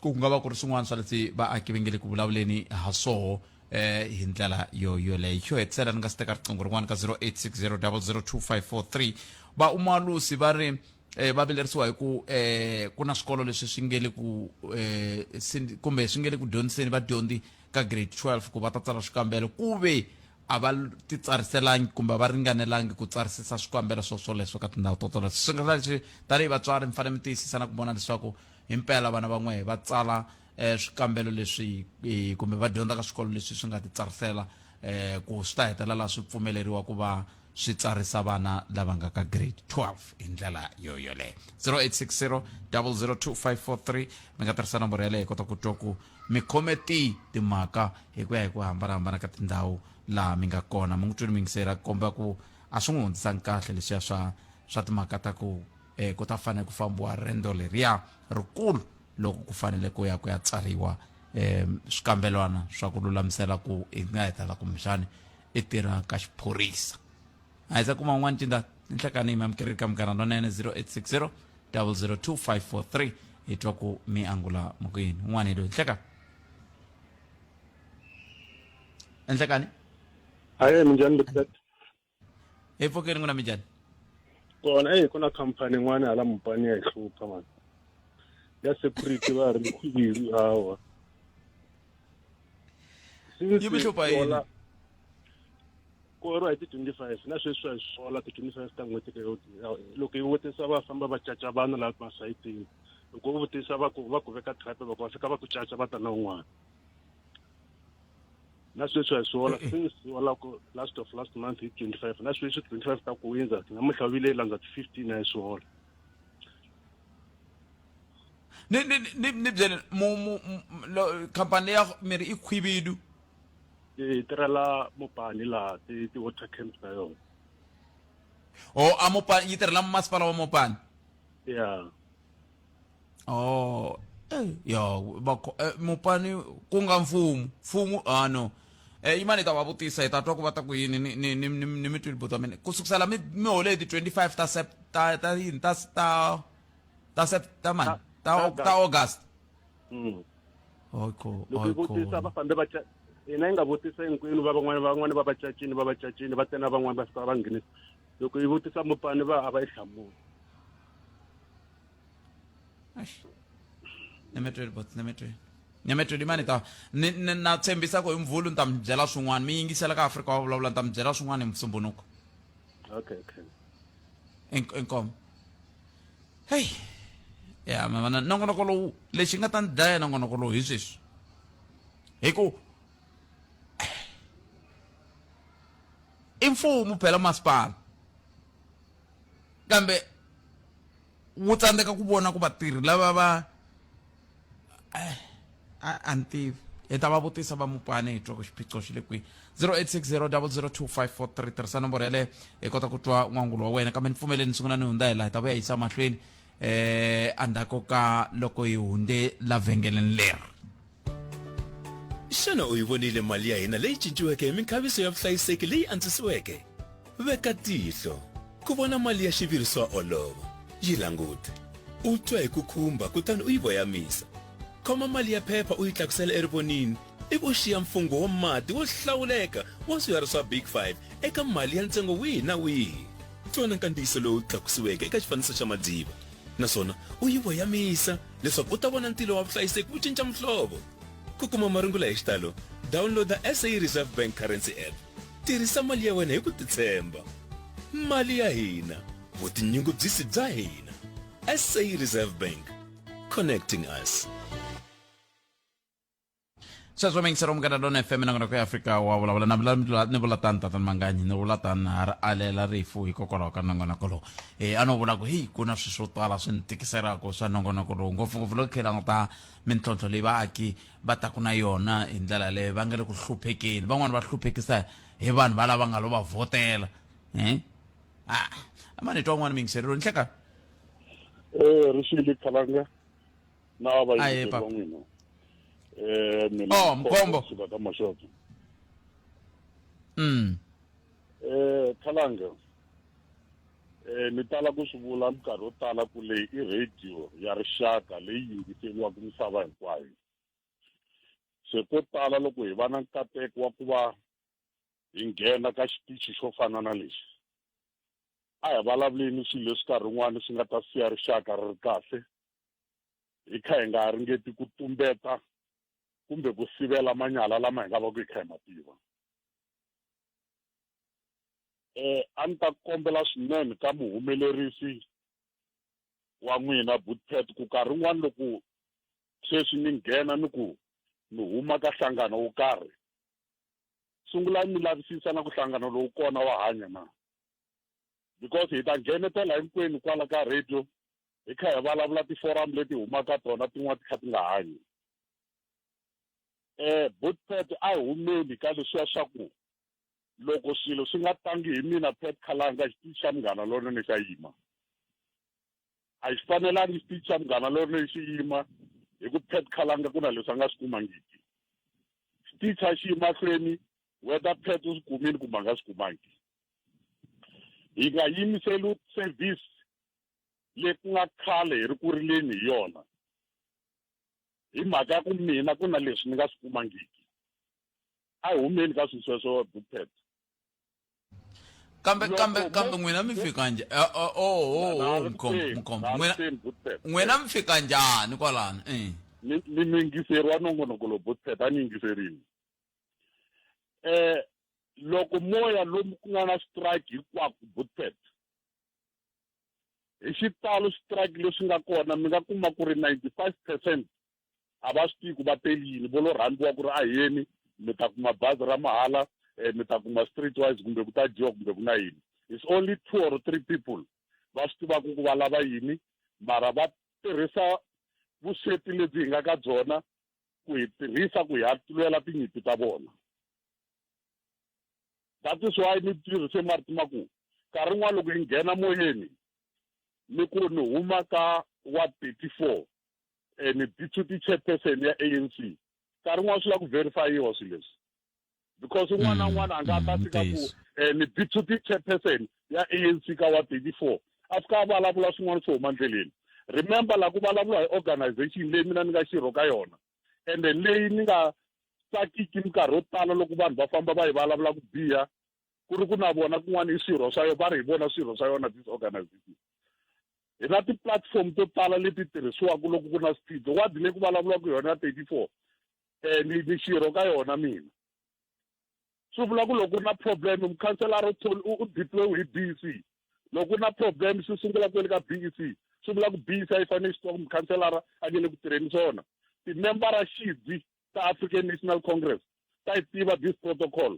ku nga va ku ri swin'wana swa leswi vaaki va nge le ku vulavuleni ha swoho eh hi ndlela yo yoleyo xo hetisela ni nga si teka riqingho rin'wana ka 0860002543 va umalusi va ri eh va vilerisiwa hi ku eh ku na swikolo leswi swi nge le ku eh sin- kumbe swi nge le ku dyondziseni vadyondzi ka grade 12 ku va ta tsala swikambelo ku ve a va l- titsariselangi kumbe a va ringanelangi ku tsarisisa swikambelo swo swoleswo ka tindhawu to toleto swi nga leswi tanihi vatswari mi fanele mi tiyisisa na ku vona leswaku hi mpela vana van'we va tsala eh, swikambelo leswi eh, kumbe va dyondza ka swikolo leswi swi nga titsarisela eh, ku swi ta hetelela swi pfumeleriwa ku va swi tsarisa vana lava nga ka grade 12 hi ndlela yoyoleyo 0860 002543 mi nga tirhisa nomboro yaleyo hi kota ku twa ku mi khome ti timhaka hi ku ya hi ku hambanahambana ka tindhawu laha mi nga kona mi n'wi twini mi yingisela ku komba ku a swi n'wi hundzisanga kahle leswiya swa swa timhaka ta ku eh, ku ta fanele ku fambiwa rendo leriya rikulu loko ku fanele ku ya ku ya tsariwa um swikambelwana swa ku lulamisela ku i nga hetala kumbexani i tirha ka xiphorisa a hi za kuma un'wana cinda ni nhlekani mi amukerile ka munghana lonene 0860 002543 hi twa ku mi angula mukuyini un'wana hi loyi nhleka nhlekani hayi minjhani lipet epfokeni ku na minjhani kona eyi ku na khampani yin'wana hala mupani ya hi hlupha mani ya security va ri khuviri hawa yi mi hlupha yini koro hi ti-twenty five na sweswi swa hi sola ti-twenty five ta n'hweti leyo loko yi vutisa va famba va caca vana laha masayitini loko u vutisa va ku va ku veka trap loko va fika va ku caca va ta na un'wana na sweswi a hi swi hola se ni swi hola ku last of last month hi twenty five na sweswi twenty five ta ku windza namuntlha vile yi landza ti-fifteen a hi swi hola ni ni ni ni byele mu mu mu- lo- khampani ya mirhi i khwibidu ti tirhela mopani laha ti ti-water camps ta yona o a mopani yi tirhela masipala wa mopani ya oh eh, yo bakho eh, mupani ku nga mfumu mfumu ah no eh yimani ni ta va vutisa hi ta twa ku va ta ku yini ni ni ni ni ni mi twile buto mina ku sukusela mi mi hole hi ti 25 ta sept ta ta yini ta ta ta sept ta mani ta Ta- ta- ta august Mm. oko loko yi vutisa va fambe va ca- hina yi nga vutisa hinkwenu va van'wana van'wana va vacacini va vacacini va tena van'wana va fika va nghenisa loko yi vutisa mupani va a va yi hlamuli nemetweni bot nemetweni nemetweni imani ta ni na tshembisa ku hi mvhulu ni ta mi byela swin'wana mi yingisela ka afrika wa vulavula ni ta mi byela swin'wana hi musumbunuko okay okay inkomo heyi ya mi vona nongonoko lowu lexi nga ta ni dlaya nongonoko lowu hi sweswi hi ku I mfumo phela masipala kambe wu tsandzeka ku vona ku vatirhi lava va eh, a ni tivi hi ta va vutisa va mupane hi twa ku xiphiqo xi le kwihi 0860002543 tirhisa nomboro yaleyo hi kota ku twa n'wangulo wa wena kambe ni pfumeleni ni sungula ni hundza hi laha hi ta vuya yisa mahlweni eh andako ka loko hi hunde la vhengeleni leri xana u yi vonile mali ya hina leyi cinciweke hi minkhaviso ya vuhlayiseki leyi antswisiweke veka tihlo ku vona mali ya xiviri swa olova yi langute u twa hi ku khumba kutani u yi voyamisa khoma mali ya phepha u yi tlakusela erivonini i ku xiya mfungho wa mati wo hlawuleka wa swiharhi swa Big Five eka mali ya ntsengo wihi na wihi. Tsona nkandziyiso lowu tlakusiweke eka xifaniso xa madziva naswona u yi voyamisa leswaku u ta vona ntilo wa vuhlayiseki wu cinca muhlovo. Ku kuma marungula hi xitalo, dawunloda SA Reserve Bank Currency App. Tirhisa mali ya wena hi ku titshemba. Mali ya hina, vutinyungubyisi bya hina. SA Reserve Bank, connecting us. sweswo mingisero munghana lona fm na ku ya afrika wa vulavula na vulavula ni vula tani tatani manganyi ni vula tani ha ri alela rifu hikokwalaho ka nongonoko lowu e a no vula ku heyi ku na swilo swo tala swi ni tikiselaka swa nongonoko lowu ngopfungopfu loko khe languta mintlhontlho leyi vaaki va taku na yona hi ndlela leyi va nga le ku hluphekeni van'wani va hluphekisa hi vanhu va lava nga lo va vhotela um a ma ni twa un'wana mingiserelo ni hleka eh, e ri xi le khalanga na va va Aye, yingiseri va Papa. n'wina eh mina Oh, ni Mkhombo. suka ka maxoto mm. eh khalanga eh ni tala ku swi vula minkarhi yo tala ku leyi i radio ya rixaka leyi yingiseriwaka misava hinkwayo se ko tala loko hi va na nkateko wa ku va hi nghena ka xitichi xo fana na lexi a hi vulavuleni swilo leswi nkarhi wun'wani swi nga ta siya rixaka ri ri kahle hi kha hi nga ringeti ku tumbeta kumbe ku sivela manyala lama hi nga va ku hi kha hi ma tiva um a ni ta kombela swinene ka muhumelerisi wa n'wina butpet ku karhi un'wana loko sweswi ni nghena ni ku ni huma ka hlangano wo karhi sungulani mi lavisisa na ku hlangano lowu kona wa hanya na because hi ta nghenetela hinkwenu kwala ka radio hi kha hi vulavula tiforum leti humaka tona tin'wana ti kha ti nga hanyi um eh, but pet a hi humeli ka leswiya swa ku loko swilo swi nga tangi hi mina pet khalanga xitichi xa munghana lonene xa yima a xi fanelangi xitichi xa munghana lonene xi yima hi ku pet khalanga ku na leswi a nga swi kumangiki xitichi a xi yi mahlweni whether pet u swi kumile kumbe a nga swi kumangi hi nga yimiseli service leyi ku nga khale hi ri ku rileni hi yona hi mhaka ya ku mina ku na leswi ni nga swi kumangiki a hi humeni ka swilo sweswo bupet kambe kambe kambe n'wina mi fika njhani eh, oh, oh, oh, oh mkhombo mkhombo n'wina n'wina mi fika njhani kwalano eh. ni ni yingiseriwa nongonoko lo bupet a ni yingiserini eh loko moya lomu ku nga na strike hinkwako butset hi xitalo strike leswi nga kona mi nga kuma ku ri ninety five percent a va swi tivi ku va teli yini vo lo rhambiwa ku ri a yeni mi ta kuma bazi ra mahala um mi ta kuma street wise kumbe ku ta dyiwa kumbe ku na yini it's only two or three people va swi tivaka ku va lava yini mara va tirhisa vusweti lebyi hi nga ka byona ku hi tirhisa ku hi hatulwela tinyimpi ta vona that is why ni tirhise marito ma ku nkarhi n'wana loko yi nghena moyeni ni ku ni huma ka wa thirty four and deputy chairperson ya a n c nkarhi n'wana swi lava ku verifayiwa swilo leswi because un'wana na un'wana a nga ta fika ku ntiyiso. um ni deputy chairperson ya a n c ka wa thirty four a fika a vulavula swin'wana swo huma ndleleni remember la ku vulavula hi organization leyi mina ni nga xirho ka yona and then leyi ni nga tsakiki minkarhi yo tala loko vanhu va famba va yi vulavula ku biha ku ri ku na vona kun'wana i swirho swa yona va ri hi vona swirho swa yona this organization hi na ti-platform to tala leti tirhisiwaka loko ku na swiphiqo wadi leyi ku vulavulaka yona ya thirty four um ni ni xirho ka yona mina swi vula ku loko ku ri na problem mukhanselara u u deployiwe hi b e c loko ku ri na problem swi sungula kwele ka b e c swi vula ku b e c a yi fanele xi tiva ku mukhanselara a nge le ku tirheni swona timembara xidzi ta african national congress ta yi tiva this protocol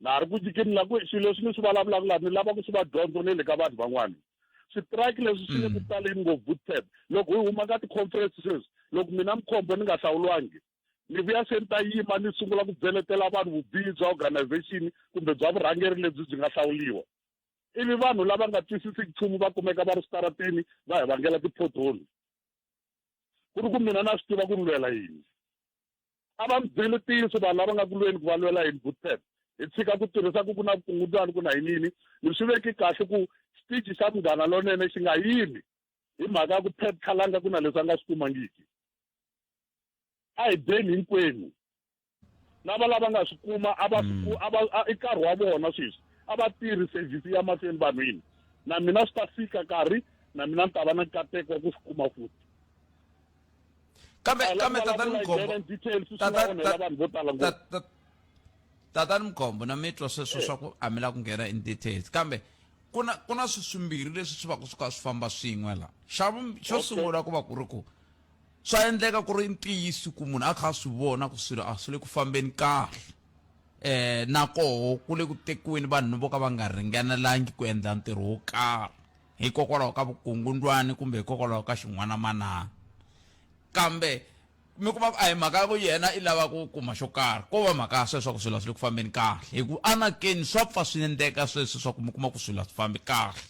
na ha ri ku nyikeni la ku swilo leswi ni swi vulavulaka laha ni lava ku swi va dyondzo ni le ka vanhu van'wana switirayiki leswi swi le ku mm. taleni ngopfu butep loko hi huma ka ti-conference sweswi loko mina mukhombo ni nga hlawuliwangi ni vuya se ni ta yima ni sungula ku byeletela vanhu vubihi bya organization kumbe bya vurhangeri lebyi byi nga hlawuliwa ivi vanhu lava nga twisisiki nchumu va kumeka va ri switarateni va hi vangela ti-pothole ku ri ku mina na swi tiva ku ni lwela yini a va mi byeli ntiyiso vanhu lava nga ku lweni ku va lwela yini bootcamp hi tshika ku tirhisa ku ku na vukungundwani ku na yinini mi swi veki kahle ku xitichi xa munghana lonene xi nga yimi hi mhaka ya ku pep khalanga ku na leswi a nga swi kumangiki a hi byeni hinkwenu lava lava nga swi kuma a va swi mm. a va i nkarhi wa vona sweswi a va tirhi service ya mahlweni vanhwini na mina swi ta fika nkarhi na mina ni ta va na nkateko wa ku swi kuma futhi kambe kambe tatani mgombo tatani mgombo na mitwa sweswo swa ku a mi la ku nghena in details kambe ku na ku na swi swimbirhi leswi swi va ku swi kha swi famba swin'we la xa xo sungula ku va ku ri ku swa endleka ku ri ntiyiso ku munhu a kha a swi vona ku swilo a swi le ku fambeni kahle um na koho ku le ku tekiweni vanhu vo ka va nga ringanelangi ku endla ntirho wo karhi hikokwalaho ka vukungundwani kumbe hikokwalaho ka xin'wanamanana kambe mi kuma ku a hi mhaka ya ku yena i lava ku kuma xo karhi ko va mhaka ya sweswo ku swilo swi le ku fambeni kahle hi ku anakeni swa pfa swi endleka sweswi swa ku mi kuma ku swilo swi fambi kahle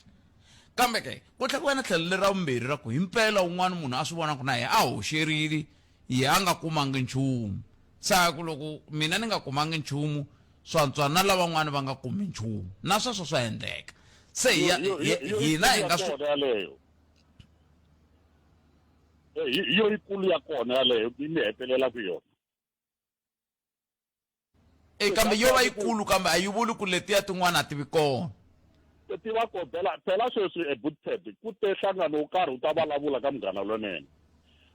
kambe ke ku tlhela ku va na tlhelo leri ra vumbirhi ra ku hi mpela un'wana munhu a swi vona ku na yena a hoxerile yena a nga kumangi nchumu se a ku loko mina ni nga kumangi nchumu swantswa na lavan'wana va nga kumi nchumu na sweswo swa endleka se hina hi nga swona yaleyo eh, yo yikulu ya kona yaleyo mi hetelela ku yona e kambe yo va yikulu kambe a yi vuli ku letiya tin'wana a ti vi kona ti va ko phela phela sweswi ebutted ku te nhlangano wo karhi wu ta vulavula ka munghana lonene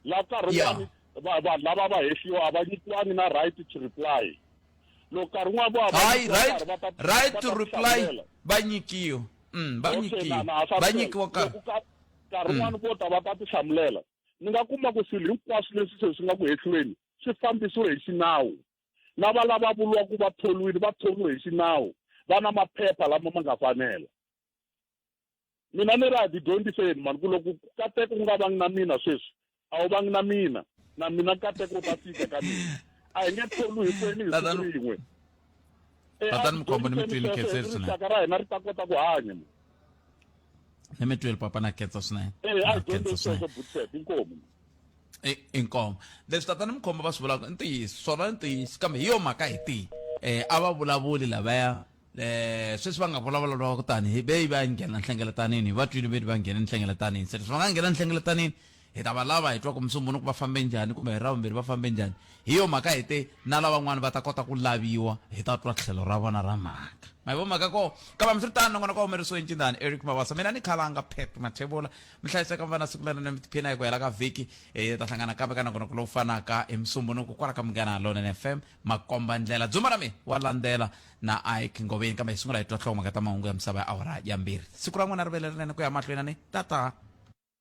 la nkarhi wun'wani vanhu lava va hehliwa a va nyikiwangi na right to reply loko nkarhi wun'wana vo hava Hi, nkarhi right, va ta right va to ta reply. hlamulela. Va nyikiwa. Mm, va Okay, nyikiwa. na- na- swa Va ntshela. nyikiwa nkarhi. Loko ka- nkarhi wun'wana vo ta va ta tihlamulela ni nga kuma ku swilo hinkwaswo leswi se swi nga ku hehlweni swi fambisiwe hi xinawu lava lava vuriwaka ku va tholiwile va tholiwe hi xinawu va na maphepha lama ma nga fanela mina ni ri a ti dyondziseni mani ku loko ku kateka ku nga vangi na mina sweswi a wu vangi na mina na mina kateka u ta fika ka mina a hi nge tholu hinkwenu hi siku rin'we tatani mukhombo ni mi twile khetseri swinene rixaka ra hina ri ta kota ku hanya ni mi twile papa na khetsa swinene a dyondze sweswo butset inkomu inkomo leswi tatana mukhombo va swi vulaka i ntiyiso swona i ntiyiso kambe hi yo mhaka hi tihi um a va vulavuli lavaya eh sweswi va nga vulavula va ku tani hi beyi va nghena nhlengeletanini hi va twini veni va nghene nhlengeletanini se leswi va nga nghena nhlengeletanini hi ta va lava hi twa ku musumbunuku va fambe njhani kumbe hi ravumbirhi va fambe njhani hi yo mhaka hi te na lavan'wana va ta kota ku laviwa hi ta twa tlhelo ra vona ra mhaka ma hi vo mhaka ko kambe mi swi ri tani nongona ka humerisiwe ncindani eric mavasa mina ni khalanga pep mathevula mi hlayiseka mi va na siku lana ni mi tiphina hi ku hela ka vhiki hi ta hlangana kambe ka nongona ku lowu fanaka hi musumbunuku kwala ka munghana lonene fm makombandlela dzumba ra mina wa landzela na ike ngoveni kambe hi sungula hi twa nhlokomhaka ta mahungu ya misava ya awara ya mbirhi siku ra n'wina ri vele rinene ku ya mahlweni ni tata